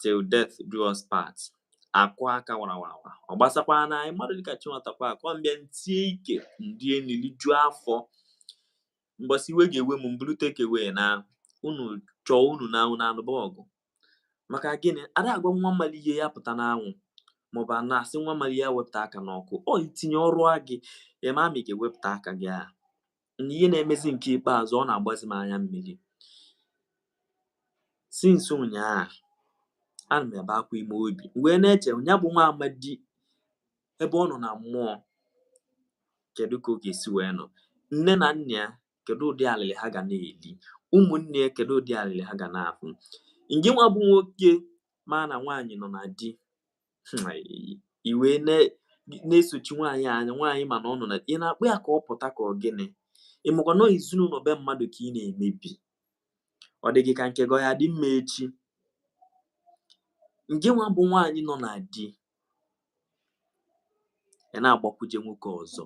till death do us part akụ aka warawarawa ọ gbasakwa na anyị mmadụ dịka chinwatakwa akụ mbịa ntie ike nlie nlijuo afọ mbọsị iwe ga-ewe m mburu takeaway naa unu chọọ unu na-anụba ọgụ maka gịnị ada agwa nwa malụ ihe ya pụta n'anwụ maọbụ a na-asị nwa malụ ihe wepụta aka n'ọkụ ọ itinye ọ rụa gị ị ma ma ị ga-ewepụta aka gị a na ihe na-emezi nke ikpeazụ ọ na-agbazi m anya mmiri since ụnyaahụ ana m ebe akwa ime obi wee na-eche ya bụ nwa amadi ebe ọ nọ na mmụọ kedu ka ọ ga-esi wee nọ nne na nna ya kedu ụdị alịlị ha ga na-eli ụmụnne ya kedu ụdị alịlị ha ga na-afụ ngị nwa bụ nwoke ma na nwaanyị nọ na di hmm, i wee na-esochi nwaanyị anya nwaanyị ị ma na ọ nọ na di na-akpọ ya ka ọ pụta ka ọ gịnị ịmakwa na ọ ezinụlọ be mmadụ ka ị na-emebi ọ dị gị ka nke gị ọ ya-adị mma echi ngị nwa bụ nwaanyị nọ na di ị na-agbakwuje nwoke ọzọ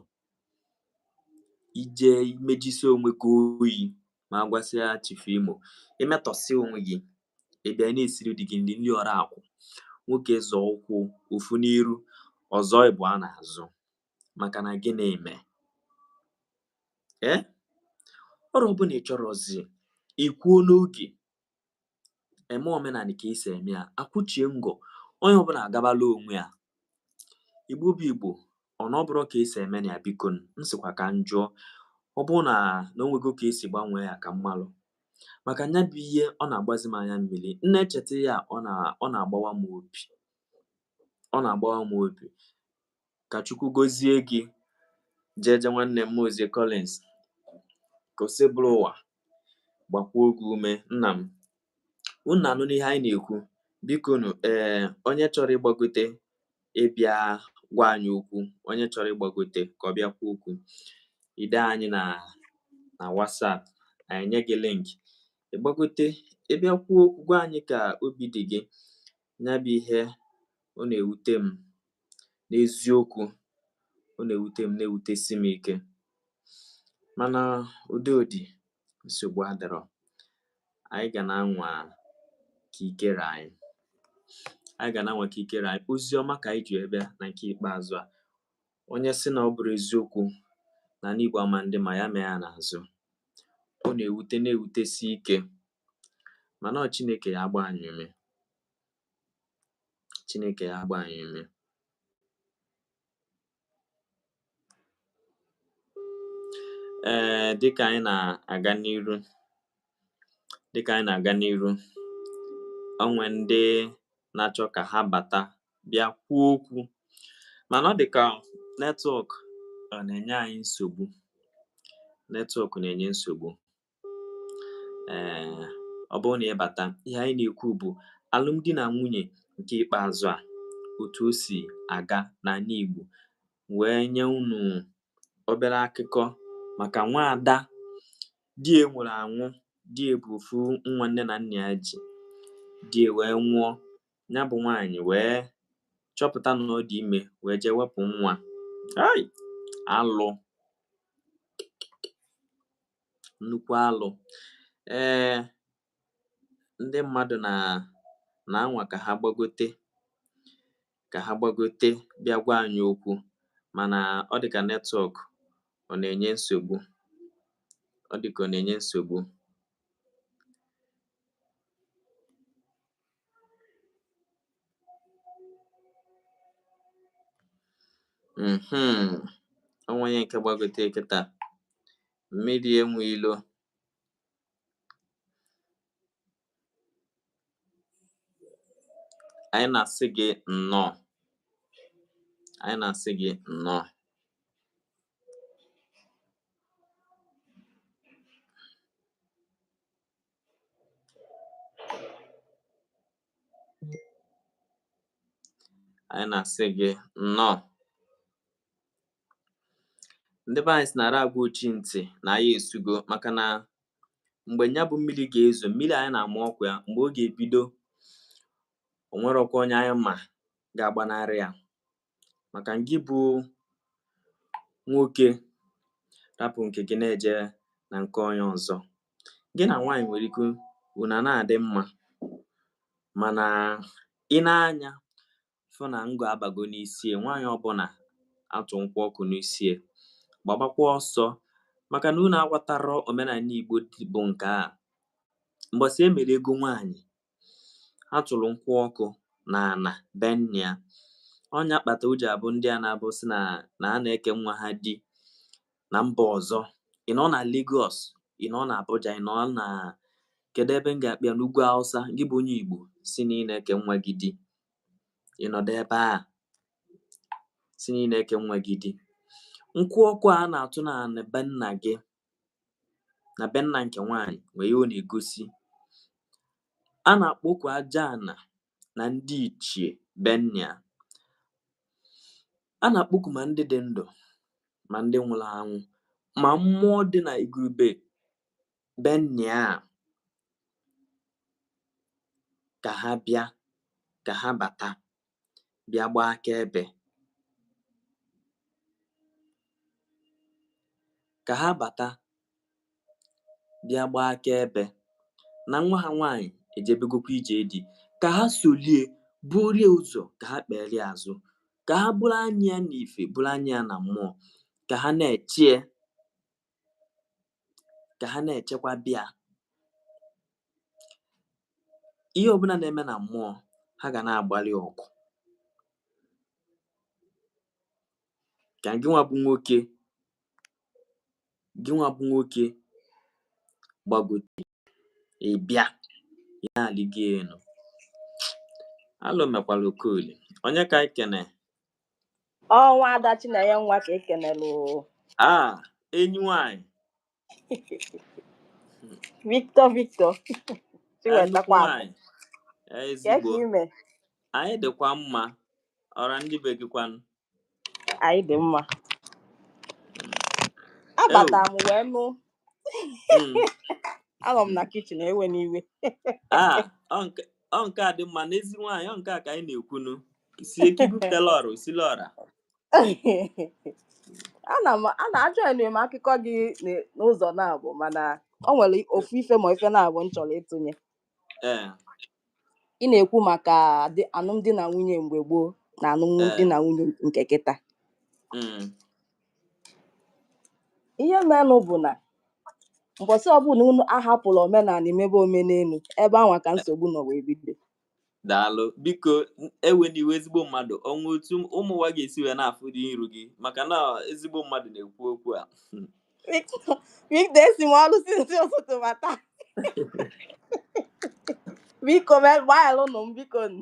ije imejisi onwe gị oyi ma a gwasịa Chief Imo imetọsị onwe gị ị bịa na-esiri di gị nri nri ọra akwụ nwoke zọọ ụkwụ ofu n'iru ọ zọọ ịbụa n'azụ maka na gị na-eme ee ọrụ ọbụla ị chọrọzi ikwuo n'oge eme omenani ka esi eme ya akwụchie ngọ onye ọbụla agabala onwe ya igbo bụ igbo ọ na ọ bụrụ ka esi eme na ya biko m sịkwa ka m jụọ ọ bụrụ na na o nwego ka esi gbanwee ya ka m malụ maka nya bụ ihe ọ na-agbazi m anya mmiri m na-echeta ya ọ na ọ na-agbawa m obi ọ na-agbawa m obi ka chukwu gozie gị jeje nwanne m ozie Collins ka Osebụrụwa gbakwuo gị ume nna m Unu na-anụ n'ihe anyị na-ekwu? Bikonu, ee, onye chọrọ ịgbagote ịbịa gwa anyị okwu, onye chọrọ ịgbagote ka ọ bịa kwuo okwu, i dee anyị na na WhatsApp, anyị enye gị link. Ị gbagote, ị bịa kwuo okwu, gwa anyị ka obi dị gị. nya bụ ihe ọ na-ewute m n'eziokwu ọ na-ewute m na-ewutesi m ike mana ụdị ụdị nsogbu adịrọ anyị ga na-anwa ka ike ra anyị anyị ga na-anwa ka ike ra anyị ozi ọma ka anyị ji bịa na nke ikpeazụ a onye sị na ọ bụrụ eziokwu na n'igbo ama ndị ma ya mee ya n'azụ ọ na-ewute na-ewutesi ike mana ọ Chineke ya-agba anyị ume Chineke ya-agba anyị ume ee dịka anyị na-aga n'iru dịka anyị na-aga n'iru o nwe ndị na-achọ ka ha bata bịa kwuo okwu mana ọ dị ka netwọk ọ na-enye anyị nsogbu netwọk na-enye nsogbu ee ọ bụrụ na ị bata ihe anyị na-ekwu bụ alụmdi na nwunye nke ikpeazụ a otu o si aga n'ani Igbo wee nye unu obere akụkọ maka nwaada di ya nwụrụ anwụ di ya bụ ofu nwa nne na nna ya ji di ya wee nwụọ ya bụ nwaanyị wee chọpụta na ọ dị ime wee jee wepụ nwa hei alụ nnukwu alụ ee ndị mmadụ na na-anwa ka ha gbagote ka ha gbagote bịa gwa anyị okwu mana ọ dị ka netwọk ọ na-enye nsogbu ọ dị ka ọ na-enye nsogbu Mm-hmm. O nwee onye nke gbagote kịta mmiri enwe ilo anyị na-asị gị nnọọ anyị na-asị gị nnọọ anyị na-asị gị nnọọ ndị be anyị sị na a ra agwa ochi ntị na aya esugo maka na mgbe nya bụ mmiri ga-ezo mmiri anyị na-ama ọkwa ya mgbe ọ ga-ebido o nwerọkwa onye anyị ma ga-agbanarị ya maka gị bụ nwoke rapụ nke gị na-eje na nke onye ọzọ gị na nwaanyị nwere ike unu a na-adị mma mana ị nee anya fụ na ngọ abago n'isi e nwaanyị ọbụla a tụ nkwụ ọkụ n'isi e gbabakwa ọsọ maka na unu aghọtarọ omenala Igbo bụ nke a mbọsị e mere ego nwaanyị ha tụrụ nkwụ ọkụ na ana be nna ya ọ nya kpata o ji abụ ndị a na-abụ sị na ha na-eke nwa ha di na mba ọzọ ị nọ na Lagos ị nọ na Abuja ị nọ na kedu ebe m ga-akpọ ya n'ugwu Hausa gị bụ onye Igbo sị na ị na-eke nwa gị di ị nọdụ ebe a sị na ị na-eke nwa gị di nkwụ ọkụ a na-atụ na ana be nna gị na be nna nke nwaanyị nwere ihe ọ na-egosi a na-akpọku aja ana na ndị ichie be nna ya a na-akpọku ma ndị dị ndụ ma ndị nwụrụ anwụ ma mmụọ dị na ngwuru be nna ya ka ha bịa ka ha bata bịa gbaa akaebe ka ha bata bịa gbaa akaebe na nwa ha nwaanyị ejebegokwa ije di ka ha solie burie ụzọ ka ha kpeere ya azụ ka ha bụrụ anya ya n'ife bụrụ anya ya na mmụọ ka ha na-echie ka ha na-echekwaba ya ihe ọbụla na-eme na mmụọ ha ga na-agbalị ọgụ ka gị nwa bụ nwoke gị nwa bụ nwoke gbagote ị bịa ị na-alịgo elu alụ mekwara okolie onye ka anyị kene ọ nwa ada chinenye nwa ka ekenelu a enyi nwanyị victor victor chiwetakwa ezigbo ime anyị dịkwa mma ọra ndị be gị kwanụ anyị dị mma abata m wee nụ hmm. anọ m na kitchen ewena iwe ah, ọ nke a dị mma n'ezi nwaanyị ọ nke a ka anyị na-ekwunu si ekibu telọrụ silọra ana m ana ajọghị m akụkọ gị n- n'ụzọ naabọ mana ọ nwere ofu ife ma ife naabọ m chọrọ ịtụnye ee ị na-ekwu maka dị- alụmdi na nwunye mgbe gboo na alụmdi ee na nwunye nke kịta mm, ihe menụ bụ na mbọsị ọbụla unu ahapụla omenala imebe omenelu ebe anwa ka nsogbu nọ wee bido daalụ biko ewena iwe ezigbo mmadụ o nwe otu ụmụ ụwa ga-esi wee na-afụdị iru gị maka na ezigbo mmadụ na-ekwu okwu a Victor esi m ọrụ since ụtụtụ bata biko gbaghalụnụ m biko nụ.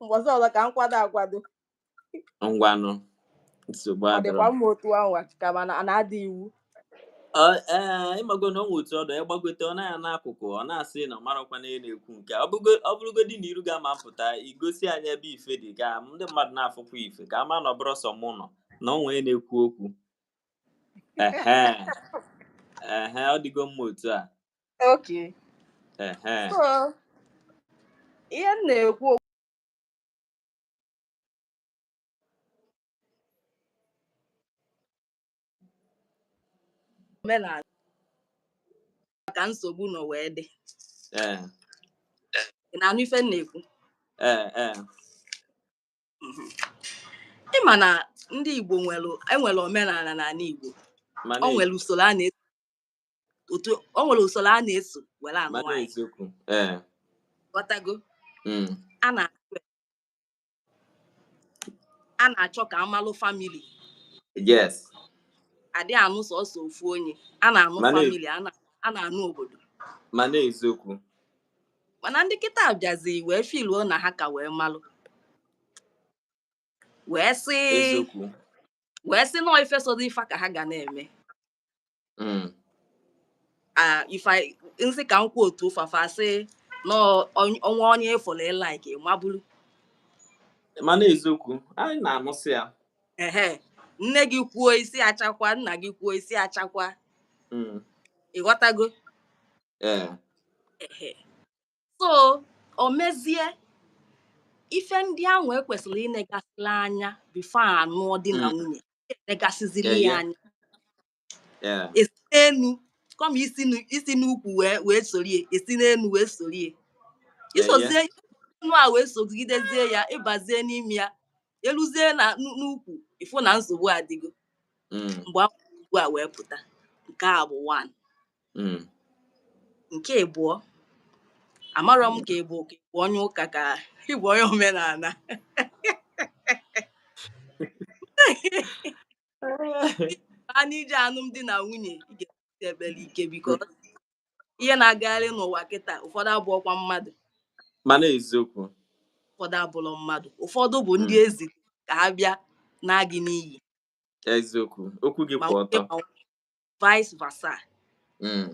mbọsị ọzọ ka m kwado akwado ngwanụ nsogbu adịrọ ọ dịkwa mma otu anwa ka ma na na-ada iwu Ọ- ee ịmago na o nwe otu ọdọ ya gbagote ọ na-aya n'akụkụ ọ na-asị na ọ marakwa na ị na-ekwu nke a. ọ bụgo- ọ bụrụgodị na iru gị ama apụta i gosi anyị ebe ife dị ka ndị mmadụ na-afụkwa ife ka a ma na ọ bụrọ sọ mụ nọ na onwe m na-ekwu okwu ehe ehe ọ dịgo mma otu a okay ehe so ihe m na-ekwu omenala ka nsogbu nọ wee dị ee ị na-anụ ife m na-ekwu ee ee ị ma na ndị Igbo nwere enwere omenala n'ala Igbo mana o nwere usoro a na-esi otu o nwere usoro a na-eso were anụ mana nwaanyị eziokwu ee ghọtago mm, a na a na-achọ ka a malụ family yes adị anụ sọsọ ofu onye a na-anụ Mana- family a na- a na-anụ obodo mana eziokwu mana ndị kịta bịazi wee filuo na ha ka wee malụ wee sị wee sị na ọ ife sọdị fa ka ha ga na-eme hmm. m sị ka m kwuo otu ụfafa sị n'ọnwa onye ị fụla ị like ma buru mana eziokwu anyị na-anụsị ya ehe nne gị kwuo isi achakwa nna gị kwuo isi achakwa hmm. ị ghọtago ee so o mezie ife ndị ahụ ekwesịrị inegasịla anya before anụọ di na hmm. nwunye enegasịziri ya anya esi n'enu kama isi n'ukwu wee sorie esi n'enu wee sorie isozie enu a wee sogidezie ya ịbazie n'ime ya eluzie na n'ukwu ịfụ na nsogbu adịgo hmm. mgbe ugbu a wee pụta nke a bụ one hmm. nke abụọ amarọ m ka ị bụ onye ụka ka ị bụ onye omenala a n'ije alụmdi na nwunye ị ga-ekpe ekpere ike biko ihe na-agagharị n'ụwa kịta ụfọdụ abụrọkwa mmadụ mana eziokwu ụfọdụ abụrọ mmadụ ụfọdụ bụ ndị hmm. e ziri ka ha bịa naa gị n'iyi eziokwu okwu gị kwụ ọtọ vice versa mm.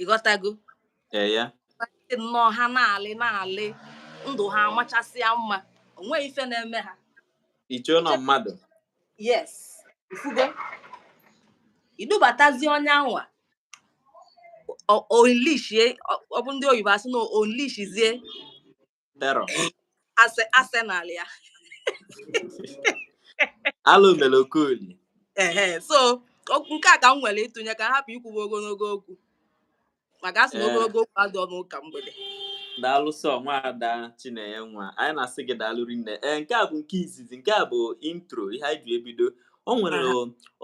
ịghọtago eh, dị nnọọ ha na-alị na-alị ndụ ha amachasịa mma onweghị ife na-eme ha i chee na ọ mmadụ yes ị fụgo i dubatazie onye anwa unleashie ọ bụ ndị oyibo asị na unleashizie arsenal ya alụ mere okoli ehe so nke a ka m nwere ịtụnye ka m hapụ ikwuwe ogologo okwu maka asị na ogologo okwu adịrọ n'ụka mgbede daalụ sọ nwaada Chinenye nwa anyị na-asị gị daalụ rinne ee nke a bụ nke izizi nke a bụ intro ihe anyị ji ebido o nwere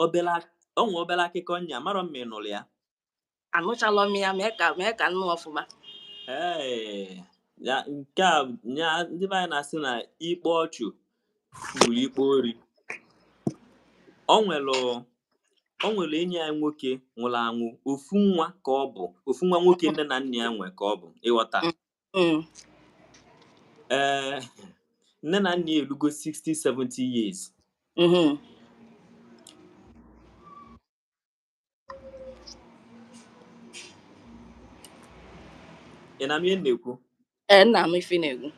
obere akụkọ nya amarọ m ma ị nụrụ ya anụchalọ m ya mee ka mee ka m nụ ọfụma Ee, ya nke a ya ndị be anyị na-asị na ikpe ọchụ gburu ikpe ori o nwere o nwere enyi anyị nwoke nwụrụ anwụ ofu nwa ka ọ bụ ofu nwa nwoke nne na nna ya nwe ka ọ bụ ịghọta Mm, ee nne na nna ya erugo 60 70 years mhm, ị na-anụ ihe m na-ekwu ee nna m ife na-ekwu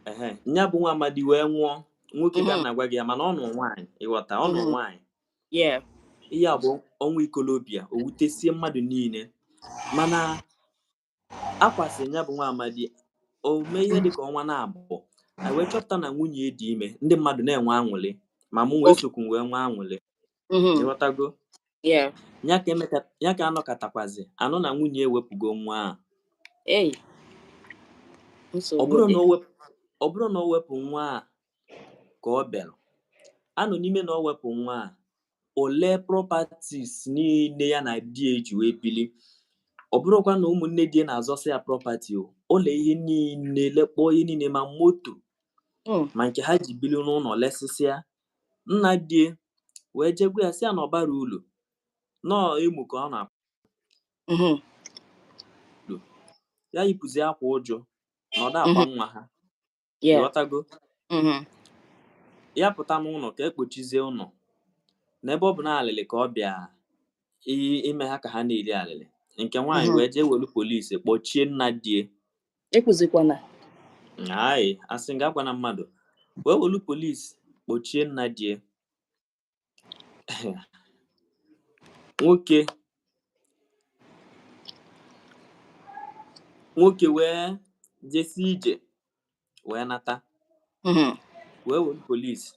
ehe nya bụ nwa amadi wee nwụọ nwoke ka m Mhm. na-agwa gị ya mana ọ nụrụ nwaanyị ịghọta ọ nụrụ Mhm. nwaanyị yeah ihe a bụ ọnwụ ikolobịa o wutesie mmadụ niile mana a kwasịa nya bụ nwa amadi o mee ihe dịka ọnwa naabọ anyị wee chọpụta na nwunye ya dị ime ndị mmadụ na-enwe aṅụrị ma mụnwa esokwu wee nwee aṅụrị Mhm. ịghọtago Yeah. ya ka emeka- ya ka a nọkatakwazị a nụ na nwunye ewepụgo nwa ahụ Hey. ọ Nsogbu bụrụ dị. na o wepụ ọ bụrụ na o wepụ nwa a ka ọ bịara anọ n'ime na o wepụ nwa a o le properties niile ya na di ya ji wee bili ọ bụrụkwa na ụmụnne di ya na-azọsị ya property o le ihe niile lekpọọ ihe niile ma moto Mm. ma nke ha ji bili n'ụlọ lesịsịa nna di ya wee je gwa ya sị ya na ọ bara ụlọ nọọ emu ka ọ na-apụ Mhm. ya yipụzi akwa uju na ọ da-akwa Mhm. nwa ha Yeah. ị ghọtago Mhm. ya pụta n'ụlọ ka e kpochizie ụlọ n'ebe ọ bụ na alịlị ka ọ bịa i- ime ha ka ha na-eri alịlị nke nwaanyị Mhm. wee jee welu polisi kpọchie nna di ya Ekwuzikwana. anyị asị m ga-agwa na mmadụ wee welu polisi kpọchie nna di ya nwoke wee jesi ije wee nata mhm. wee welu polisi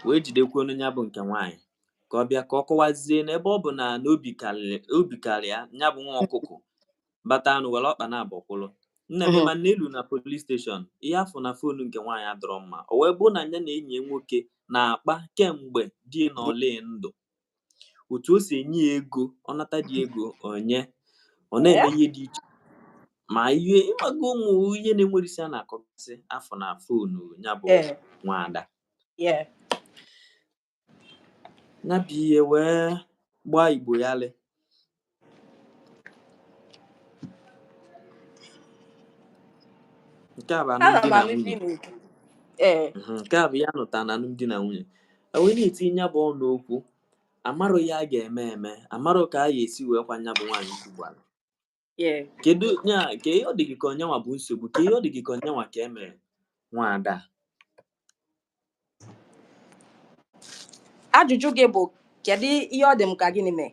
wee jidekwanụ nya bụ nke nwaanyị ka ọ bịa ka ọ kọwazie n'ebe ọ bụ na obi karịa ya bụ nwa ọkụkụ bata anụ were ọkpa naabọ kwụrụ nne m mana e lu na polis steshọn ihe a fụ na fonu nke nwaanyị adịrọ mma o wee bụrụ na ya na enyi ya nwoke na-akpa kemgbe di nọ na ndụ otu o si enye ya ego ọ nata di ego o nye ọ na-eme ihe dị iche ma ihe ị mago ụmụ ihe na-enwerọ isi ha na-akọgasị a fụ na fonu ya bụ nwaada Nya bụ ihe wee gbaa Igbo yalịị nke a bụ alụmdi na nwunye mhm, nke a bụ ihe a nụta na alụmdi na nwunye wee na-etinye ya bụ ọnụ n'okwu amarọ ihe a ga-eme eme amarọ ka a ga-esi wee kwa nya bụ nwaanyị ugbu ala Yeah. kedu ya kee ihe ọ dị gị ka ọ nyanwa bụ nsogbu kee ihe ọ dị gị ka ọ nyanwa ka e mere nwaada Ajụjụ gị bụ kedu ihe ọ dị m ka gịnị mee?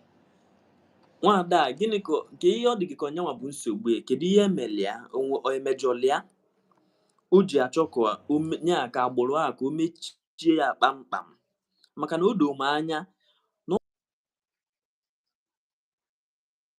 nwaada a, gịnị kee ihe ọ dị gị ka ọ nyanwa bụ nsogbu ya kedu ihe e mere ya onye mejọlụ ya o ji achọ ka o me- ya ka agbụrụ a ka o mechie ya kpamkpam maka na o doo m anya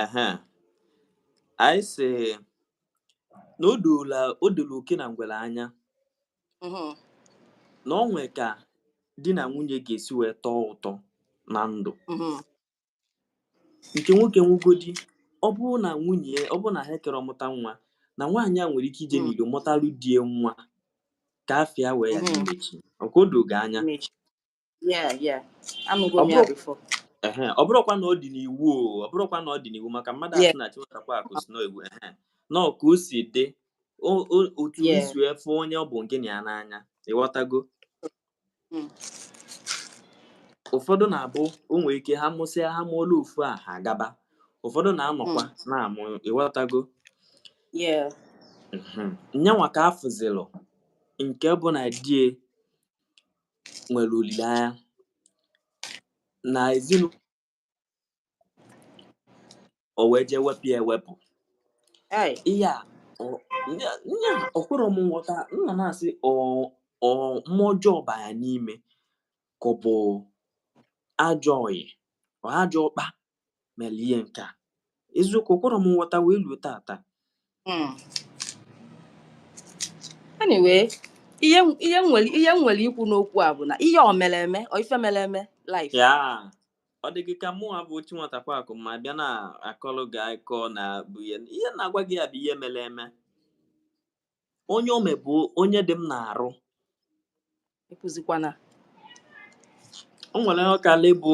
ehe anyị sị na o dola oke na ngwere anya Mhm. na o nwee ka di na nwunye ga-esi wee tọọ ụtọ na ndụ Mhm. nke nwoke nwugodi ọ bụrụ na nwunye ọ bụrụ na ha akarọ amụta nwa na nwaanyị a nwere ike ije Mm. n'ilo mụtalụ di ya nwa ka afa ya wee ya Mhm. imechi ọ kwa o dogo gị anya Mechi. Yeah, yeah. Anụgo m ya before. ọ bụrụkwa na ọ dị n'iwu ọ bụrụkwa na ọ dị n'iwu maka mmadụ asị na chiwetakwa akụ si n'egwu na ka o si dị otu i si wee fụ onye ọ bụ nke na ya n'anya ịghọtago hmm. ụfọdụ na-abụ o nwere ike ha mụsịa ha mụọla ofu a ha agaba ụfọdụ na-anọkwa hmm. na-amụ ịghọtago nyanwa ka afụzilụ nke bụ na di e nwere olileanya na ezinụlọ o wee jee wepụ ya ewepụ Hey, ihe a ọ- nye nye a, o kwerọ m nghọta m nọ na-asị ọ ọ mmụọ ọjọọ ba ya n'ime ka ọ bụ ajọ ọyị ọ ajọ ọkpa mere ihe nke a eziokwu o kwerọ m nghọta wee ruo tata hmm. anyway ihe ihe nwere ihe m nwere ikwu n'okwu a bụ na ihe o mere eme ọ ife mere eme live ya ọ dị gị ka mụwa bụ otu nwata kwakụ ma bịa na-akọlụ gị akọ nya bụ ihe ihe m na-agwa gị ya bụ ihe mere eme onye o me bụ onye dị m n'arụ ekwuzikwana o nwere ihe ọka lebụ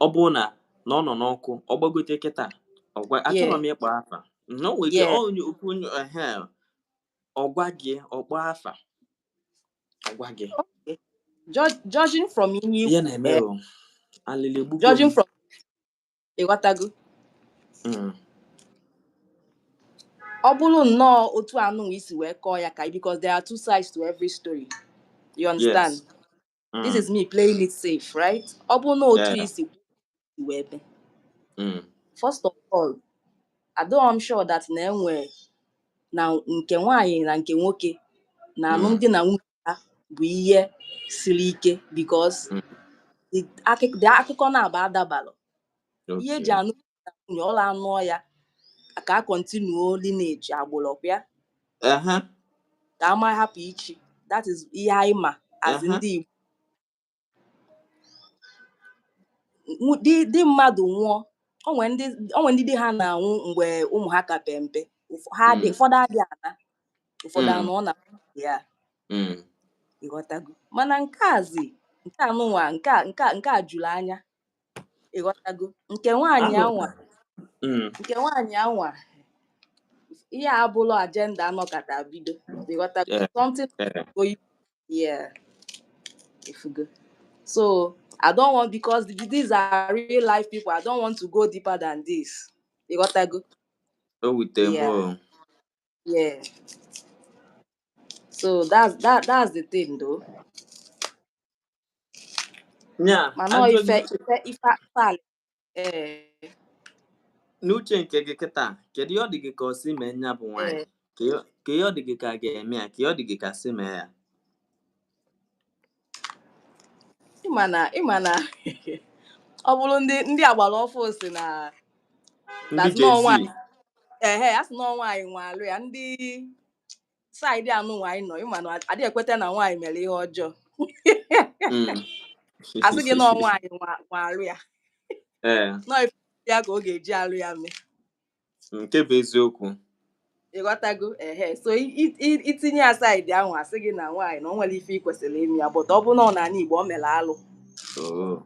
ọ bụrụ na na ọ nọ n'ọkụ ọ gbagote kịta ọ gwa achọrọ m ịkpọ afa na o nwere onye okwu onye ehe ọ gwa gị ọ kpọọ afa ọ gwa gị judging from ihe na-eme alịlị egbugbo judging from ịghọtago mm. ọ bụrụ nnọọ otu anụ i si wee kọọ ya ka because there are two sides to every story you understand yes. mm. this is me playing it safe right ọ bụrụ na otu o si wee be mm. first of all adịghị m sure that na enwe na nke nwaanyị na nke nwoke na mm. alụmdi na nwunye ya bụ ihe siri ike because mm. the akụk- the akụkọ naabọ adabarọ ihe e ji Okay. anụ na nwunye ọ na a nụọ ya ka a continue lineage agbụrụ ọ kwa ya Aha, ka ama hapụ ichi that is ihe anyị ma as aha. ndị Igbo di mmadụ nwụọ o nwe ndị o nwe ndị di ha na-anwụ mgbe ụmụ ha ka pe mpe ha dị mm. ụfọdụ adị ana ụfọdụ mm. anọ na ya mm. ịghọtago mana nke azi nke anụnwa nke nke nke a juru anya ịghọtago nke nwaanyị anwa nke nwaanyị anwa ihe a bụlụ agenda a nọkata bido ịghọtago something oyibo yeah ifugo so i don't want because these are real life people i don't want to go deeper than this you got that good go with them yeah. Oh. yeah so that's that that's the thing though yeah, mana ife ife ife akpali ee n'uche nke gị kịta kedu ihe ọ dị gị ka o si mee nya bụ nwaanyị ee ka ihe ka ihe ọ dị gị ka a ga-eme ya ka ihe ọ dị gị ka e si mee ya ị ma na ị ma na ọ bụrụ ndị ndị agbara ọfụụ si na ndị na-asị na Gen Z ọnwa ehe a sị na ọ nwaanyị nwe arụ ya ndị side anụnwa anyị nọ ị ma na adị ekweta na nwaanyị mere ihe ọjọọ hmm. a sị gị na ọ nwaanyị nwe arụ ya eh. na ọ ya ka ọ ga-eji arụ ya mee nke bụ eziokwu ịghọtago ehe so i tinye ya side ahụ a sị gị na nwaanyị na o nwere ife i kwesịrị ime ya but ọ bụ na ọ n'ani Igbo o mere alụ oh.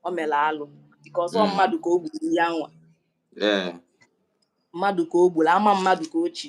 o mere alụ because ọ hmm. mmadụ ka o gburu ya nwa eh. mmadụ ka o gburu ama mmadụ ka o chi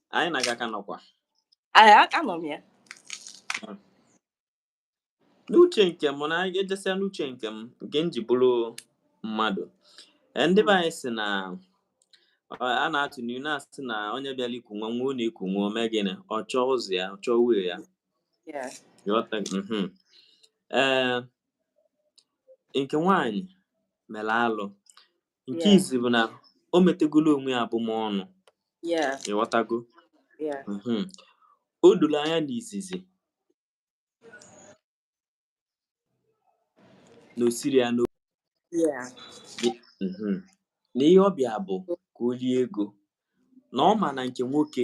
anyị na gị ka nọkwa Aka nọ m ya. n'uche nke m na anyị ga-ejesịa n'uche nke m nke m ji bụrụ mmadụ Ee, ndị be anyị sị na ọ, a na-atụ n'ilu na-asị na onye bịara iku nwa nwa ọ na-eku nwụọ o mee gịnị ọ chọọ ụzọ ya ọ chọọ uwe ya Yeah. Ịghọtago? Mhm. ee nke nwaanyị mere alụ nke izizi bụ na o metagolo onwe ya abụmọnụ ịghọtago mhm. o doro anya n'izizi na o siri ya n'obi mhm. na ihe ọ bịa bụ ka o rie ego na ọ ma na nke nwoke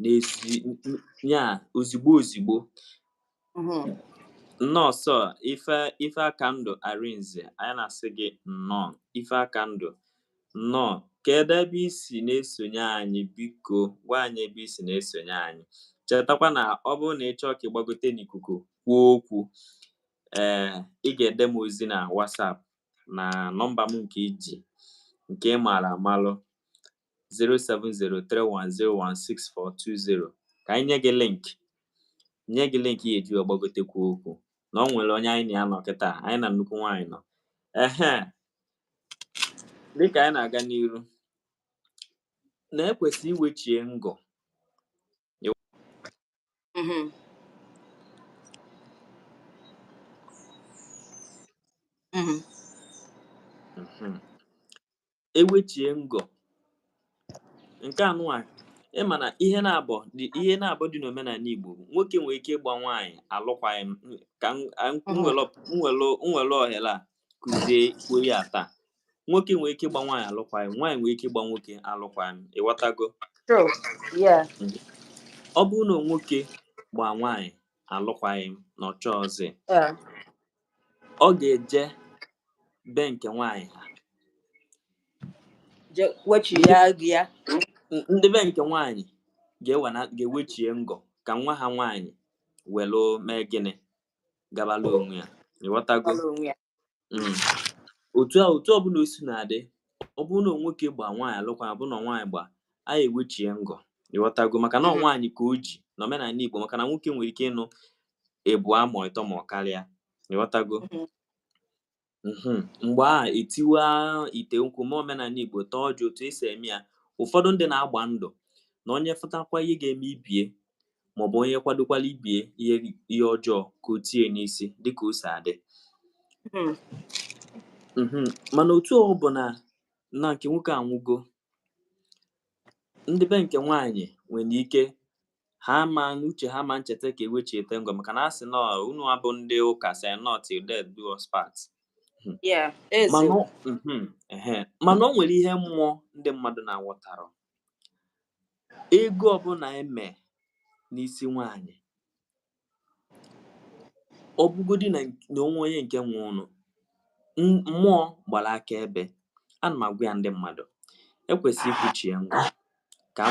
n'isi ya ozigbo ozigbo mm-hmm. Nwosu Ife- Ifeakandụ Arinze anyị na-asị gị nnọọ Ifeakandụ nnọọ kedu ebe i si na-esonye anyị biko gwa anyị ebe i si na-esonye anyị chetakwa na ọ bụrụ na ị chọọ ka ị gbagote n'ikuku kwuo okwu ee eh, ị ga-ede m ozi na WhatsApp na nọmba m nke i ji nke ị maara amalụ 07031016420 ka anyị nye gị link nye gị link ị ya-eji wee gbagote kwuo okwu na o nwere onye anyị na ya nọ kịta anyị na nnukwu nwaanyị nọ ehe dịka anyị na-aga n'iru na e kwesị iwechie ngọ Mhm. Mhm. Mhm. e wechie ngọ nke anụnwa ị ma na ihe naabọ dị ihe naabọ dị n'omenani Igbo bụ nwoke nwere ike ịgba nwaanyị alụkwaghị m ka m- a- m Mhm. were ọp- m were- m were ohere a kụziekwuo ya taa nwoke nwere ike ịgba nwaanyị alụkwaghị m nwaanyị nwere ike ịgba nwoke alụkwaghị m ịghọtago True. Yeah. ọ bụrụ na nwoke gbaa nwaanyị alụkwaghị m na ọ chọọzị Yeah. ọ ga-eje be nke nwaanyị ha je wechi ya gị ya N- ndị be nke nwaanyị ga-ewana- ga-ewechie ngọ ka nwa ha nwaanyị welu mee gịnị gabala onwe ya ịghọtago gbara onwe ya Mm. otu a otu ọbụla o si na-adị ọ bụrụ na nwoke gba nwaanyị alụkwa ọ bụrụ na nwaanyị gba a ewechie ngọ ịghọtago maka na ọ Mhm. nwaanyị ka o ji na omenala igbo maka na nwoke nwere ike ịnụ ịbụọ ma ịtọ ma ọ karịa ịghọtago mm-hmm. Mm-hmm. mgbe a etiwa ite nkwụ na omenala igbo taa ọjị otu esi eme ya ụfọdụ ndị na-agba ndụ na onye fụtakwa ihe ga-eme ibie maọbụ onye kwadokwala ibie ihe ihe ọjọọ ka o tie n'isi dịka o si adị mm-hmm. mana otu ọ bụ na na nke nwoke anwụgo ndị be nke nwaanyị nwere ike ha ma n'uche ha ama echeta ka ewechiete ngọ maka na a sị na unu abụ ndị ụka sị na ọ till death do us part hmm. mhm, mana o nwere ihe mmụọ ndị mmadụ na-aghọtarọ ego ọbụla eme n'isi nwanyị ọ bụgodi na o nwe onye nke nwe ụnụ mmụọ gbara aka ebe ana m agwa ya ndị mmadụ ekwesị ịkwụchi ya ngwa ka a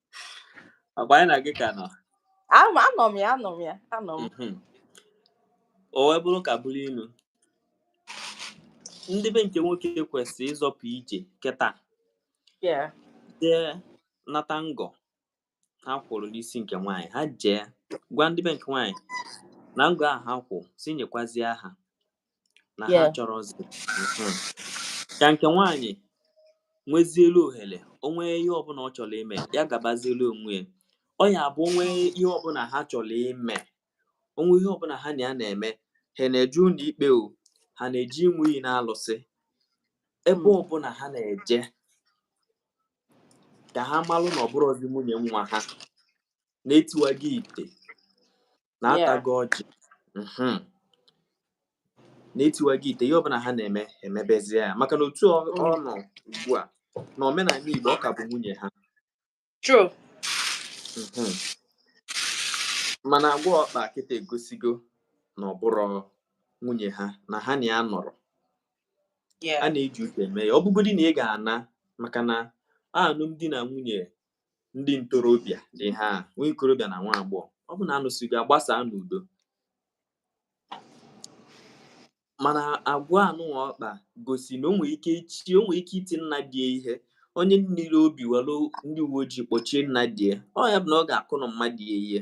Ọkwa anyị na gị ka nọ. Ama anọ m ya anọ m ya anọ m. Mhm. O wee bụrụ ka bụrụ ilu. Ndị be nke nwoke kwesịrị ịzọpụ ije kịta Yeah. jee nata ngọ ha kwụrụ n'isi nke nwaanyị ha jee gwa ndị be nke nwaanyị na ngọ ahụ ha kwụ si nyekwazie ha na ha Yeah. chọrọzi Mhm. ka nke nwaanyị nwezielu ohere o nwee ihe ọbụla ọ chọrọ ime ya gabazielu onwe ya ọ ya bụ o nwee ihe ọbụla ha chọrọ ime o nwee ihe ọbụla ha na ya na-eme ha na-eje ụlọ ikpe o ha na-eje ịṅụ iyi na alụsị ebe Mm. ọbụla ha na-eje ka ha malụ na ọ bụrọzi nwunye nwa ha na etiwago ite na Yeah. atago ọjị mhm, na etiwago ite ihe ọbụla ha na-eme emebezie ya maka na otu ọ ọ Mm. nọ ugbu a na omenala Igbo ọ ka bụ nwunye ha True. mhm. mana agwa ọ kpa kịta egosigo na ọ bụrọ nwunye ha na ha na ya anọrọ a Yeah. na-eji uche eme ya ọ bụgodị na ị ga-ana maka na alụmdi na nwunye ndị ntorobịa dị ha nwa ikorobịa na nwa agbọghọ ọ bụ na anụsịgo agbasa n'udo mana agwa anụnwa ọ kpa gosi na o nwere ike ichi o nwere ike iti nna di ya ihe onye nwere obi were ndị uwe ojii kpọchie nna di ya ọ ya bụ na ọ ga-akụnwu nna di ya ihe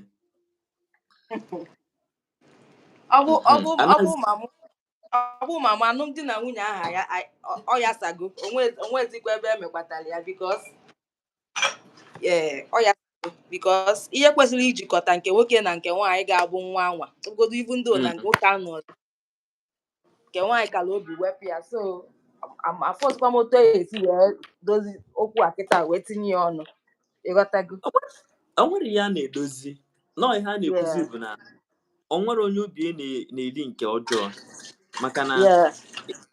ọ bụ ọ bụ ọ bụ ma mụ ọ bụ ma mụ alụmdi na nwunye aha ya a- ọ- ọ yasago o nwe- o nwezikwa ebe emekwatara ya because ee ọ ya because ihe kwesịrị ijikọta nke nwoke na nke nwaanyị ga-abụ nwa anwa ogodo even though na nke nwoke anọzị nke nwaanyị kara obi wepụ ya so am- afụzikwa m otu a ya-esi wee dozi okwu a kịta wee tinye ya ọnụ ịghọtago o nwere ihe a na-edozi nọọ ihe a na-ekwuzi Yeah. bụ na o nwere onye obi ya na- na-eri nke ọjọọ maka na Yeah.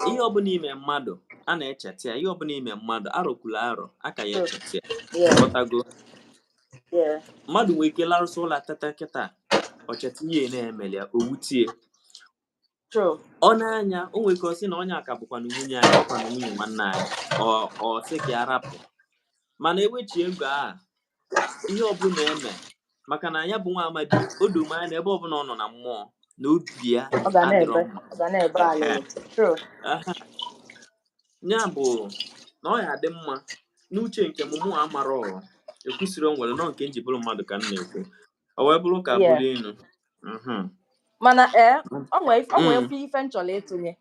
ihe ọbụla i me mmadụ a na-echeta ya ihe ọbụla i me mmadụ arọkwula arọ a ka ya True. echeta ya Yeah. ghọtago Yeah. mmadụ nwere ike larụsịa ụla teta kịta o cheta ihe na-emeli ya o wutie ọ na-anya o nwere ike ọ sị na onye a ka bụkwa na nwunye anyị ọ kwa na nwunye nwanne anyị ọ sị ka ya rapụ mana ewechie ego a ihe ọbụla e me maka na ya bụ nwa amadi o do m anya na ebe ọbụla ọ nọ na mmụọ na obi ya adịrọ mma ya bụ na ọ ya adị mma n'uche nke mụnwa amarọ ekwusịrị o nwere nọ nke m ji bụrụ mmadụ ka m na-ekwu o wee bụrụ ka Yeah. bụrụ inu Mhm. mana ee Mm. ọ nwee ọ nwee Mm. ofu ife m chọrọ ịtụnye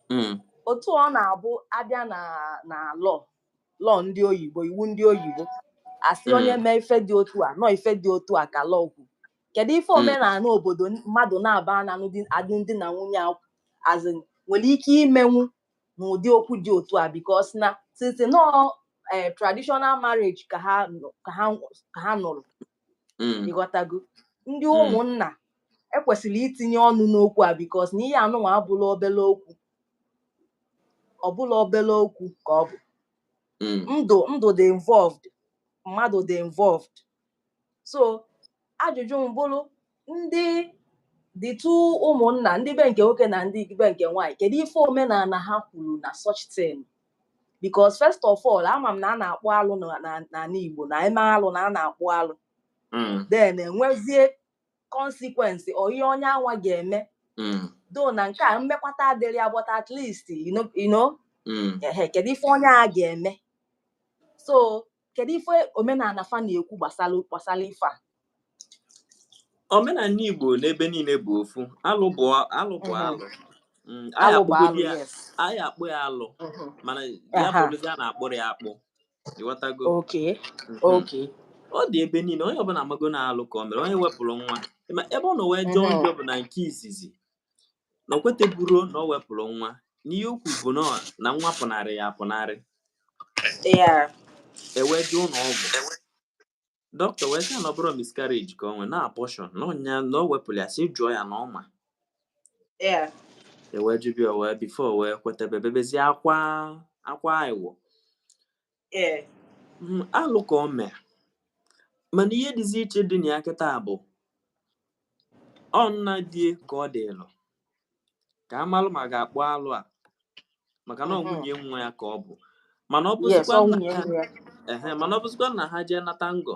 Mm. otu ọ na-abụ abịa na na law law ndị oyibo iwu ndị oyibo asị Mm. onye mee ife dị otu a nọ ife dị otu a ka law kwu kedu ife Mm. omenala obodo n- mmadụ na-aba na alụmdi- alụmdi na nwunye a azị nwere ike imenwu n'ụdị okwu dị otu a because na since nọ eh, traditional marriage ka ha nọ- ka ha ka ha nụrụ mm. ịghọtago ndị mm. ụmụnna ekwesịrị itinye ọnụ n'okwu a because na ihe anụnwa abụrọ obele okwu ọ bụrọ obele okwu ka ọ bụ mm. ndụ ndụ dị involved mmadụ dị involved so ajụjụ m bụrụ ndị dịtụ ụmụnna ndị be nke nwoke na ndị be nke nwaanyị kedu ife omenala ha kwuru na such thing because first of all ama m na a na-akpụ alụ na- na- n'ala Igbo na e mee alụ na a na-akpụ alụ Mm, then enwezie consequence or ihe onye anwa ga-eme mm, though na nke a mmekwata adịrọ ya but at least you know, you know mm, ehe, kedu ife onye a ga-eme so kedu ife omenala fa na-ekwu gbasara ife a omenala igbo n'ebe niile bụ ofu alụ bụ alụ bụ mhm. alụ mm, anyị akpụ ya alụ mhm. mana ya bụrụzi a na-akpụrụ ya akpụ ịghọtago mhm. ọ dị ebe niile onye ọbụla amago na alụ ka o mere onye wepụrụ nwa ebe ọ nọ wee jọọ njọ bụ na nke izizi na o kweteburo na o wepụrụ nwa n'ihe o kwu bụ na ọ- na nwa pụnarị ya apụnarị ya e wee jee ụlọ ọgwụ dọkịta wee sị ya na ọ bụrọ miscarriage ka o nwee na abortion na ọnya na o wepụrụ ya sị jụọ ya na ọ ma ya e wee jụba ya wee before o wee kwetebe bebezie akwa akwa iwo ee mm, alụ ka o mee mana ihe dịzi iche dị na ya kịta bụ ọ nna di ya ka ọ dịlụ ka a malụ ma a ga-akpụ alụ a maka na ọ mhm. nwunye nwa ya ka ọ bụ mana ọ bụzikwa na ha jee nata ngọ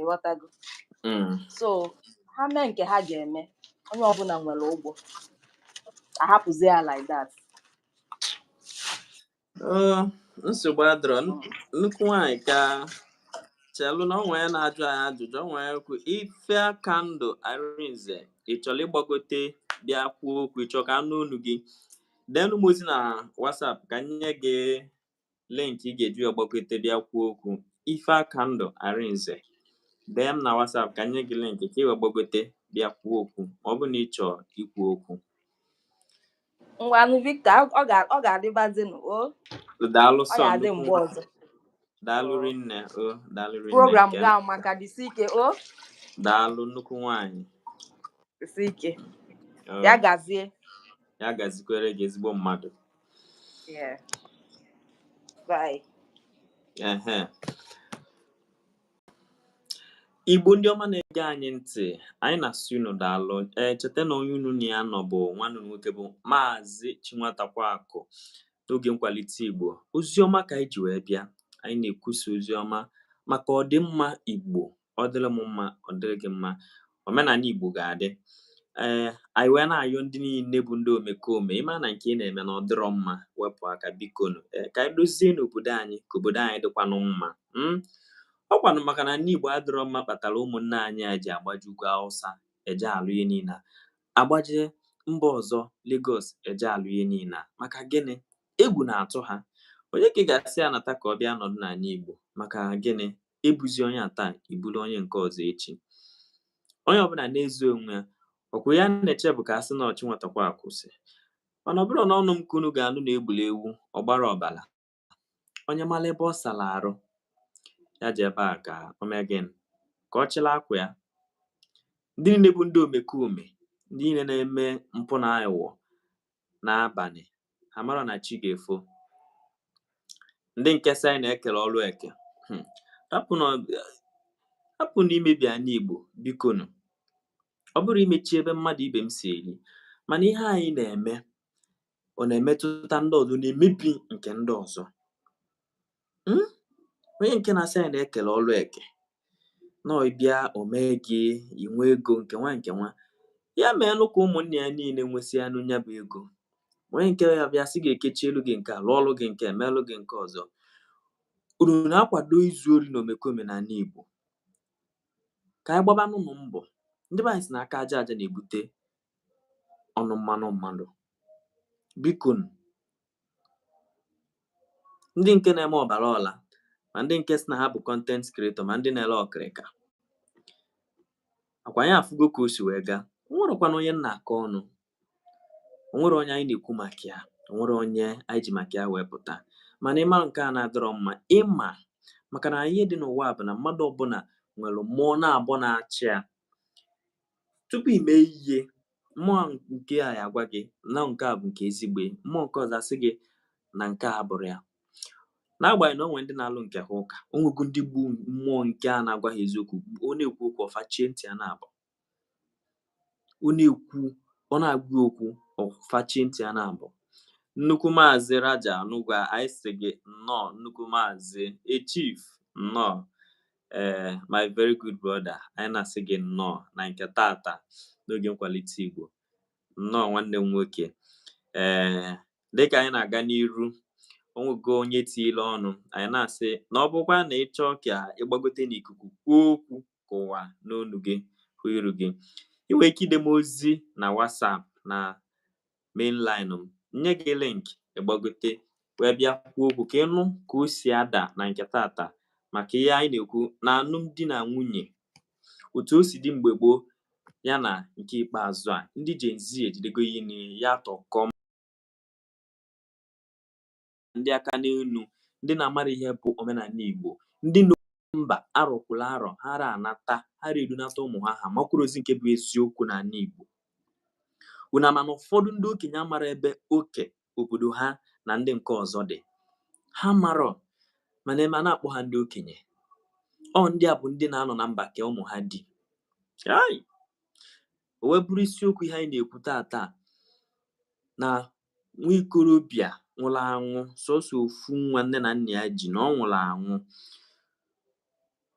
ịghọtago mm. so ha mee nke ha ga-eme onye ọbụla nwere ụgwọ ahapụzi ya like that oh, nsogbu adịrọ nnukwu nwanyị ka chelụ na onwe ya na-ajụ anyị ajụjụ onwe ya kwu Ifeakandụ Arinze ị chọrọ ịgbagote bịa kwuo okwu ị chọọ ka a nụ olu gị deenụ m ozi na WhatsApp ka m nye gị link ị ga-eji wee gbagote bịa kwuo okwu Ifeakandụ Arinze dee m na WhatsApp ka m nye gị link ka i wee gbagote bịa kwuo okwu ma ọ bụ na ị chọọ ikwu okwu ngwanụ Victor ọ ga-adịbazinụ o daalụ sọ daalụ rinne o daalụ rinne program gị amaka jisi ike o daalụ nnukwu nwanyị jisi ike ya gazie ya gazikwere gị ezigbo mmadụ Yeah. Bye. Uh-huh. Igbo ndị ọma na-ege anyị ntị anyị na-asị unu daalụ ee cheta na onye unu na ya nọ bụ nwanne unu nwoke bụ maazị Chinwatakwaakụ n'oge nkwalite Igbo oziọma ka anyị ji wee bịa anyị na-ekwusa oziọma maka ọdịmma Igbo ọ dịrị m mma ọ dịrị gị mma omenala igbo ga-adị ee eh, anyị wee na-ayọ ndị niile bụ ndị omekome ị ma na nke ị na-eme na ọ dịrọ mma wepụ aka bikonu ee eh, ka anyị dozienụ obodo anyị ka obodo anyị dịkwanụ mma hmm? ọ kwanụ maka na ndị igbo adịrọ mma kpatara ụmụnne anyị a ji agbaje ugwu Awụsa eje alụ ihe niile agbaje mba ọzọ Lagos eje alụ ihe niile maka gịnị egwu na-atụ ha onye ka ị ga-asị ya nata ka ọ bịa nọdụ n'ala igbo maka gịnị ebuzi onye a taa iburu onye nke ọzọ echi onye ọbụla na-ezo onwe ya ọkwa ya na-eche bụ ka a sị na ọchị nwatakwa akwụsị mana ọ bụrọ na ọnụ m ka unu ga-anụ na egburu ewu ọgbara ọbara onye mara ebe ọ sara arụ ya jee ebe a ka o mee gịnị ka ọ chịla akwa ya ndị niile bụ ndị omekome ndị niile na-eme mpụ na aghụghọ n'abalị ha mara na chi ga-efo ndị nke sị anyị na-ekele ọrụ eke hmm. hapụnụ imebi anị Igbo bikonu ọ bụrọ imechi ebe mmadụ ibe m si eri mana ihe anyị na-eme ọ na-emetụta ndị ọzọ na-emebi nke ndị ọzọ hmm? onye nke na-asị anyị na-ekele ọrụ eke na ị bịa o mee gị i nwee ego nke nwa nke nwa ya meenụ ka ụmụnne ya niile nwesịanụ nya bụ ego onye nke a bịa sị ga-ekechielụ gị nke a lụọrụ gị nke a melụ gị nke ọzọ unu na-akwado izu ori na omekome na anị Igbo ka anyị gbabanụnụ mbọ ndị be anyị sị na aka aja aja na-ebute ọnụ mmanụ mmanụ bikonu ndị nke na-eme ọbara ọla ma ndị nke sị na ha bụ content creator ma ndị na-ele ọkịrịka ọkwa anyị afụgo ka o si wee gaa onwerọkwanụ onye m na-akọ ọnụ onwerọ onye anyị na-ekwu maka ya onwerọ onye anyị ji maka ya wee pụta mana ịma nke a na-adịrọ mma ịma maka na ihe dị n'ụwa bụ na mmadụ ọbụla nwere mmụọ naabọ na-achị ya tupu i mee ihe mmụọ nke a agwa gị na nke a bụ nke ezigbo mmụọ nke ọzọ asị gị na nke a abụrọ ya n'agbanyeghị na onwe ndị na-alụ nke ha ụka onwego ndị bụ mmụọ nke a na-agwa ha eziokwu ọ na-ekwu okwu ọ fachie ntị ya naabọ ọ na-ekwu ọ na-agwa okwu ọ fachie ntị ya naabọ nnukwu maazị Raja Anugwa anyị sị gị nnọọ nnukwu maazị Chief nnọọ ee my very good brother anyị na-asị gị nnọọ na nke tata n'oge nkwalite Igbo nnọọ nwanne m nwoke ee dịka anyị na-aga n'iru onwego onye tiile ọnụ anyị na-asị na ọ bụkwa na ị chọọ ka ịgbagote n'ikuku kwuo okwu ka ụwa nụ onu gị hụ iru gị ị nwere ike ide m ozi na WhatsApp na main line m nye gị link ịgbagote wee bịa kwuo okwu ka ịnụ ka o si ada na nke tata maka ihe anyị na-ekwu na alụmdi na nwunye otu o si dị mgbe gboo ya na nke ikpeazụ a ndị Gen Z ejidego ihe niile ya tọkọm ndị aka n'elu ndị na-amarọ ihe bụ omenala Igbo ndị mba arọ kwụla arọ ha ra anata ha ra edunata ụmụ ha ha makwuru ozi nke bụ eziokwu n'ala Igbo unu ama na ụfọdụ ndị okenye amarọ ebe oke obodo ha na ndị nke ọzọ dị ha amarọ mana eme a na-akpọ ha ndị okenye ọ ndị a bụ ndị na-anọ na mba ka ụmụ ha dị o wee bụrụ isiokwu ihe anyị na-ekwu taa taa na nwa ikorobịa nwụrụ anwụ sọsọ ofu nwa nne na nna ya ji na ọ nwụrụ anwụ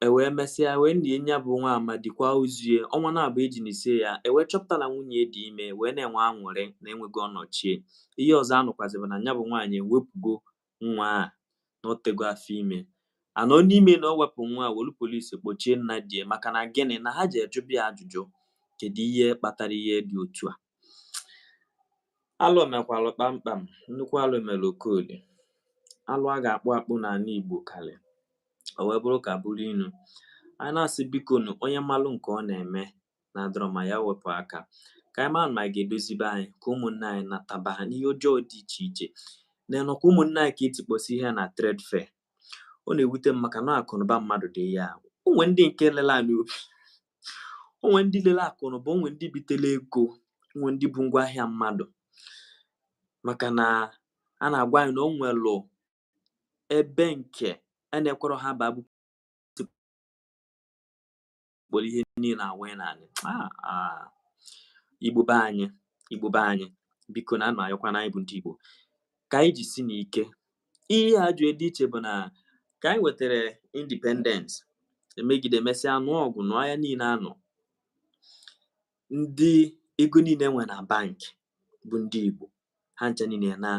ewee mesịa wee nie nya bụ nwa amadi kwaa ozu ya ọnwa naabọ eji nisie ya ewee chọpụta na nwunye dị ime wee na-enwe anwụrị na enwego ọnọchie ihe ọzọ anụkwazị bụ na nya bụ nwaanyị ewepụgo nwa a na o tego afọ ime a nọ n'ime na o wepụ nwa a wolu polisi kpọchie nna di ya maka na gịnị na ha jee jụba ya ajụjụ kedu ihe kpatara ihe dị otu a alụ mekwalụ kpamkpam nnukwu alụ mere oke alụ alụ a ga-akpụ akpụ n'ala igbo karị o wee bụrụ ka bụrụ inu anyị na-asị bikonụ onye malụ nke ọ na-eme na-adịrọ mma ya wepụ aka ka anyị mara ma anyị ga-edozi be anyị ka ụmụnne anyị nataba na ihe ọjọọ dị iche iche na nekwa ụmụnne anyị ka etikpọsi ihe na trade fair ọ na-ewute m maka na akụnụba mmadụ dị ya o nwe ndị nke lele anị obi o nwe ndị lele akụnụba o nwe ndị bitele ego o nwe ndị bu ngwa ahịa mmadụ maka na a na-agwa anyị na o nwelụ ebe nke a na-ekwerọ ha ba kpọrọ ihe niile awa n'anị ah, ah. igbo be anyị igbo be anyị biko na ana m ayọkwa na anyị bụ ndị igbo ka anyị jisinụ ike ihe a jụ dị iche bụ na ka anyị nwetara independence emegide emesịa anụọ ọgụ nụọ aya niile anụ ndị ego niile nwe na bank bụ ndị Igbo ha ncha niile na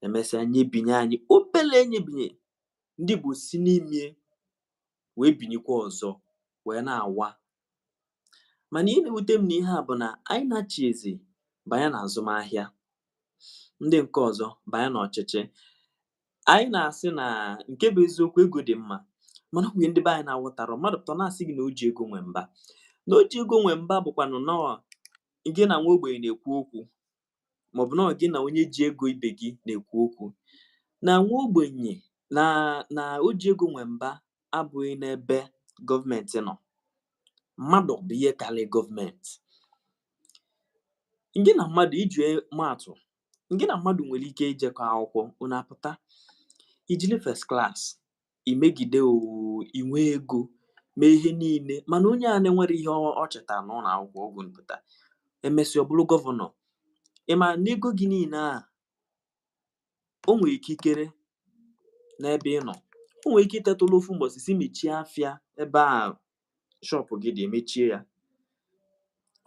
emesịa nyebinye anyị obele nyebinye ndị Igbo si n'ime wee binyekwa ọzọ wee na-awa mana ihe na-ewute m n'ihe a bụ na anyị na-achị eze banye na azụmahịa ndị nke ọzọ banye na ọchịchị anyị na-asị na nke bụ eziokwu ego dị mma mana o nwe ihe ndị be anyị na-awọtarọ mmadụ pụta na-asị gị na o ji ego nwe mba na o ji ego nwe mba bụkwanụ na ọ gị na nwa ogbenye na-ekwu okwu maọbụ na gị na onye ji ego ibe gị na-ekwu okwu na nwa ogbenye na o ji ego nwe mba abụghị n'ebe gọọmenti nọ mmadụ bụ ihe karị gọọmenti gị na mmadụ iji maatụ gị na mmadụ nwere ike ijekọ akwụkwọ unu apụta i jili first class i megide oo i nwee ego mee ihe niile mana onye a na-enwerọ ihe ọ chịta n'ụlọ akwụkwọ ọ gụọ pụta e mesịa ọ bụrụ gọvanọ ị ma na ego gị niile a o nwere ikikere n'ebe ị nọ o nwere ike iteta ụla ofu mbọsị sị mechie afịa ebe a shọpụ gị dị e mechie ya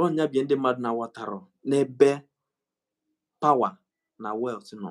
ọ nya bụ ihe ndị mmadụ na-aghọtarọ n'ebe pawa na wealth nọ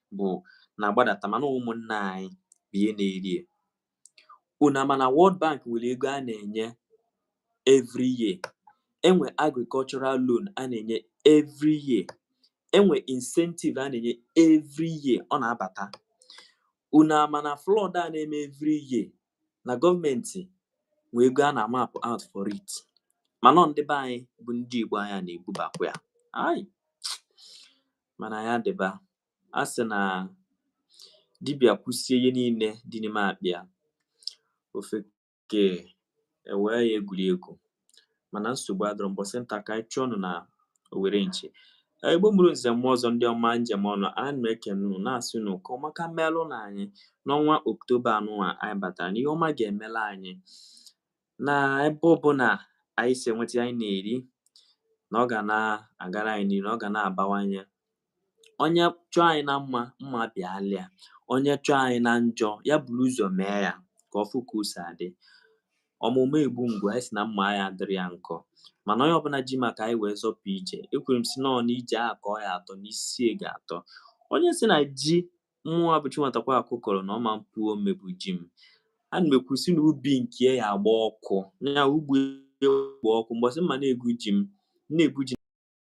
bụ na-agbadata mana ụmụnna anyị bụ ihe na-eri ya unu ama na World Bank nwere ego a na-enye every year e nwee agricultural loan a na-enye every year e nwee incentive a na-enye every year ọ na-abata unu ama na flood a na-eme every year na gọọmenti nwere ego a na-amap out for it mana ọ ndị be anyị bụ ndị Igbo anyị a na-ebubakwa ya Ai! mana ya dịba a sị na dibịa kwusie ihe niile dị n'ime akpa ya ofeke ewee ya egwuregwu mana nsogbu adịrọ mbọsị nta ka anyị chụọ nụ na owere nchi Igbo mụrụ nze mụọ ọzọ ndị ọma m ji eme ọnụ a na-ekene unu na-asị unu ka ọma ka melụ na anyị n'ọnwa oktoba anụnwa anyị batara na ihe ọma ga-emelụ anyị na ebe ọbụla anyị si enweta anyị na-eri na ọ ga na-agara anyị n'ihu na ọ ga na-abawanye onye chọọ anyị na mma mma bịalụ ya onye chọọ anyị na njọ ya buru ụzọ mee ya ka ọ fụ ka o si adị ọ mụ mma egbu mgbu anyị sị na mma ya dịrị ya nkọ mana onye ọbụla ji maka anyị wee zọpụ ije ekwuru m sị nọọ na ije a ka ọ ya atọ na isi ya ga-atọ onye sị na ji mụ abụchi nwatakwa akụ kọrọ na ọ ma epu ome bụ ji m ana m ekwu sị na ubi nke ya agba ọkụ na ugbo gba ọkụ mbọsị m ma na-egwu ji m na-egwu ji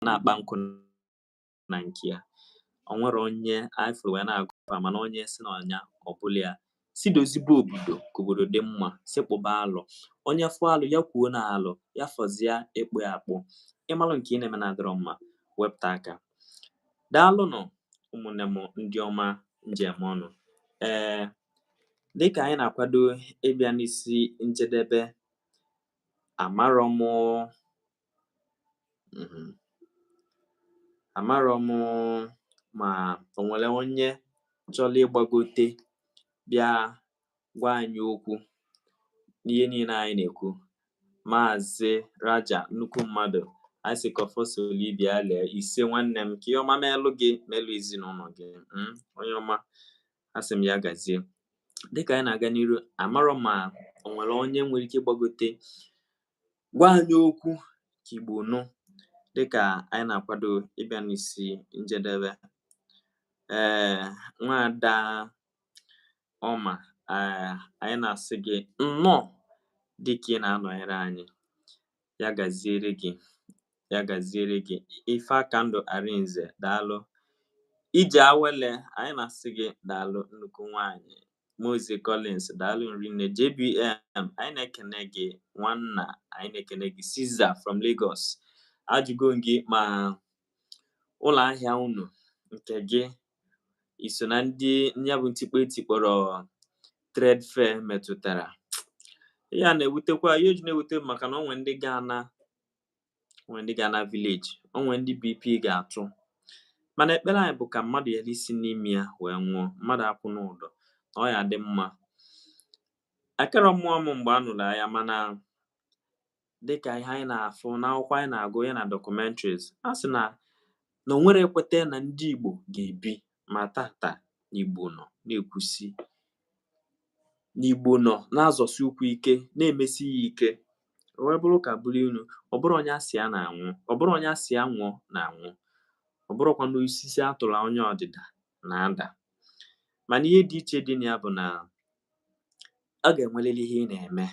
na-akpa nkụ na nke ya o nwere onye anyị fụrụ wee na-agụ mana onye sị na ọ nya ọ bụlụ ya sị dozibe obodo ka obodo dị mma sị kpụba alụ onye fụ alụ ya kwuo na alụ ya fọzie ịkpụ ya akpụ ị malụ nke ị na-eme na-adịrọ mma wepụta aka daalụnụ ụmụnne m ndị ọma m ji eme ọnụ ee dịka anyị na-akwado ịbịa n'isi njedebe amarọ m mhm. amarọ m ma o nwere onye chọrọ ịgbagote bịa gwa anyị okwu n'ihe niile anyị na-ekwu maazị Raja nnukwu mmadụ anyị sị ka ọfọ soro ibe ya lee ise nwanne m ka ihe ọma melụ gị melụ ezinụlọ gị mm, onye ọma asị m ya gazie dịka anyị na-aga n'iru amarọ m ma o nwere onye nwere ike ịgbagote gwa anyị okwu ka Igbo nụ dịkà anyị na-akwado ịbịa n'isi njedebe ee eh, nwaada ọma ee eh, anyị na-asị gị nnọọ dịka ị na-anọnyere anyị ya gaziere gị ya gaziere gị Ifeakandụ Arinze daalụ Ijeawele anyị na-asị gị daalụ nnukwu nwaanyị Mozie Collins daalụ rinne JBM anyị na-ekene gị nwanna anyị na-ekene gị Caesar from Lagos ajụgo m gị ma ụlọ ahịa unu nke gị iso na ndị ya bụ ntikpọ e tikpọrọ trade fair metụtara ya na-ewutekwa ihe o ji na-ewute bụ maka na o nwere ndị ga-ana o nwe ndị ga-ana village o nwe ndị BP ga-atụ mana ekpere anyị bụ ka mmadụ ghara isi n'ime ya wee nwụọ mmadụ akwụna ụdọ na ọ ya-adị mma akarọ amụ m mgbe a nụrụ agha mana dịka ihe anyị na-afụ n'akwụkwọ anyị na-agụ ya na documentaries a sị na na onwere ekweta na ndị Igbo ga-ebi ma tata n'Igbo nọ na-ekwusi n'Igbo nọ na-azọsi ụkwụ ike na-emesi ya ike o wee bụrụ ụka bụrụ inu ọ bụrọ onye a sị ya na-anwụ ọ bụrọ onye a sị ya nwụọ na-anwụ ọ bụrọkwanụ osisi a tụlụ anya ọdịda na-ada mana ihe dị iche dị na ya bụ na ọ ga-enwerịrị ihe ị na-eme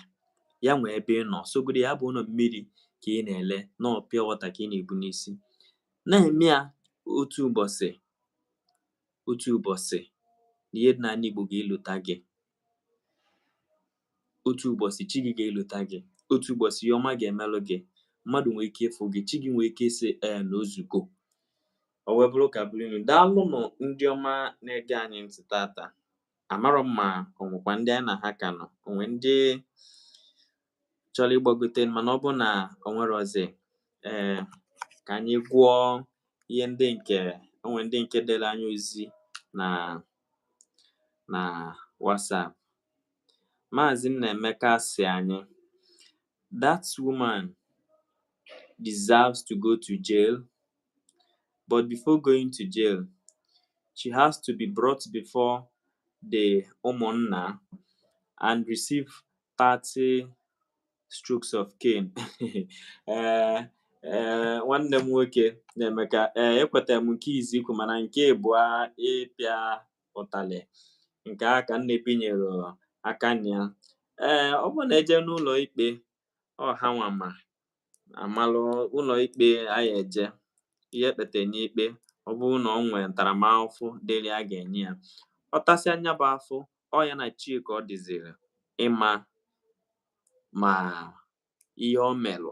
ya nwee ebe ị nọ sọgodi ya bụ na ọ mmiri ka ị na-ele na ọ pure water ka ị na-ebu n'isi na-eme ya otu ụbọchị otu ụbọchị na ihe dị n'ala Igbo ga-elota gị otu ụbọchị chi gị ga-elota gị otu ụbọchị ihe ọma ga-emelụ gị mmadụ nwee ike ịfụ gị chi gị nwee ike ịsị ee na o zugo o wee bụrụ ụka bụrụ inu daalụnụ ndị ọma na-ege anyị ntị tata amarọ m ma o nwekwa ndị anyị na ha ka nọ o nwe ndị chọrọ ịgbagote mana ọ bụ na o nwerọzị ee ka anyị gụọ ihe ndị nke o nwe ndị nke dere anyị ozi na na WhatsApp Maazị Nnaemeka sị anyị that woman deserves to go to jail but before going to jail she has to be brought before the ụmụnna and receive 30 strokes of cane ee ee nwanne m nwoke Nnaemeka ee ekwetara m nke izizi i kwu mana nke ịbụa ịpịa ụtalị nke a ka m na-ebinyerọ aka na ya ee ọ bụrụ na e jee n'ụlọ ikpe ọ ha nwa ma amalụ ụlọ ikpe anyị eje ihe ekpete n'ikpe ọ bụrụ na ọ nwere ntaramahụhụ dịrị a ga-enye ya ọ tasịa nya bụ afụfụ ọ ya na chi ka ọ dịziri ịma ma ihe ọ melụ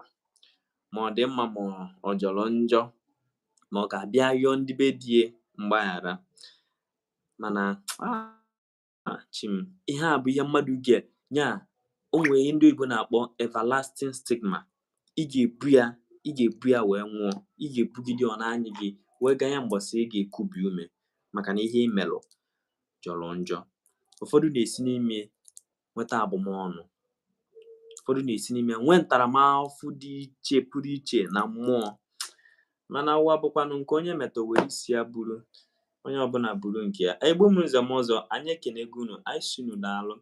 ma ọ dị mma ma ọ jọrọ njọ ma ọ ga-abịa yọọ ndị be di ya mgbaghara mana Ah, chi m ihe a bụ ihe mmadụ ga nya o nwere ihe ndị oyibo na-akpọ everlasting stigma ị ga-ebu ya ị ga-ebu ya wee nwụọ ị ga-ebugide ọ na-anyị gị wee ganye mbọsị ị ga-ekubi ume maka na ihe i melụ jọrọ njọ ụfọdụ na-esi n'ime nweta abụmọnụ ụfọdụ na-esi n'ime nwee ntaramahụhụ dị iche pụrụ iche na mmụọ mana ụwa bụkwanụ nke onye meta o were isi ya buru onye ọbụla buru nke ya igbo mụrụ nze mụọ ọzọ anyị ekenego unu anyị sị unu daalụ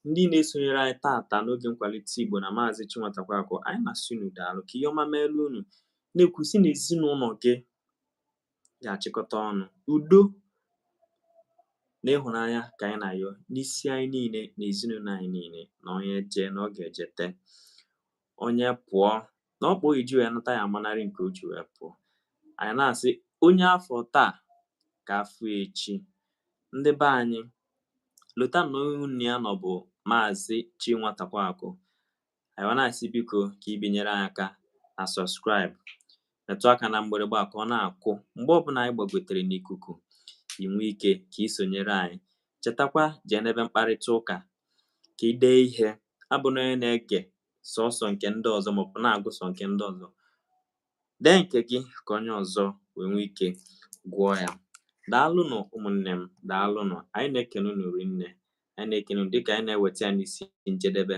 ndị na-esonyere anyị taata n'oge nkwalite igbo na maazị chinwatakweakụ anyị na-asị unu daalụ ka ihe ọma meelu unu na-ekwu sị na ezinụlọ gị ga-achịkọta ọnụ udo na ịhụnanya ka anyị na-ayọ n'isi anyị niile na ezinụlọ anyị niile na onye jee na ọ ga-ejete onye pụọ na okpogho o ji wee nata ya amanarị nke o ji wee pụọ anyị na-asị onye a fụ taa ka a fụ echi ndị be anyị lota na onye unu ya nọ bụ maazị Chinwatakweakụ anyị na-asị biko ka i binyere anyị aka na subscribe metụ aka na mgbịrịgba ka ọ na-akụ mgbe ọbụla anyị gbagotere n'ikuku i nwee ike ka ị sonyere anyị chetakwa jee n'ebe mkparịta ụka ka ị dee ihe abụna onye na-ege sọsọ nke ndị ọzọ maọbụ na-agụ sọ nke ndị ọzọ dee nke gị ka onye ọzọ wee nwee ike gụọ ya daalụnụ ụmụnne m daalụnụ anyị na-ekene unu rinne anyị na-ekene dịka anyị na-eweta ya n'isi njedebe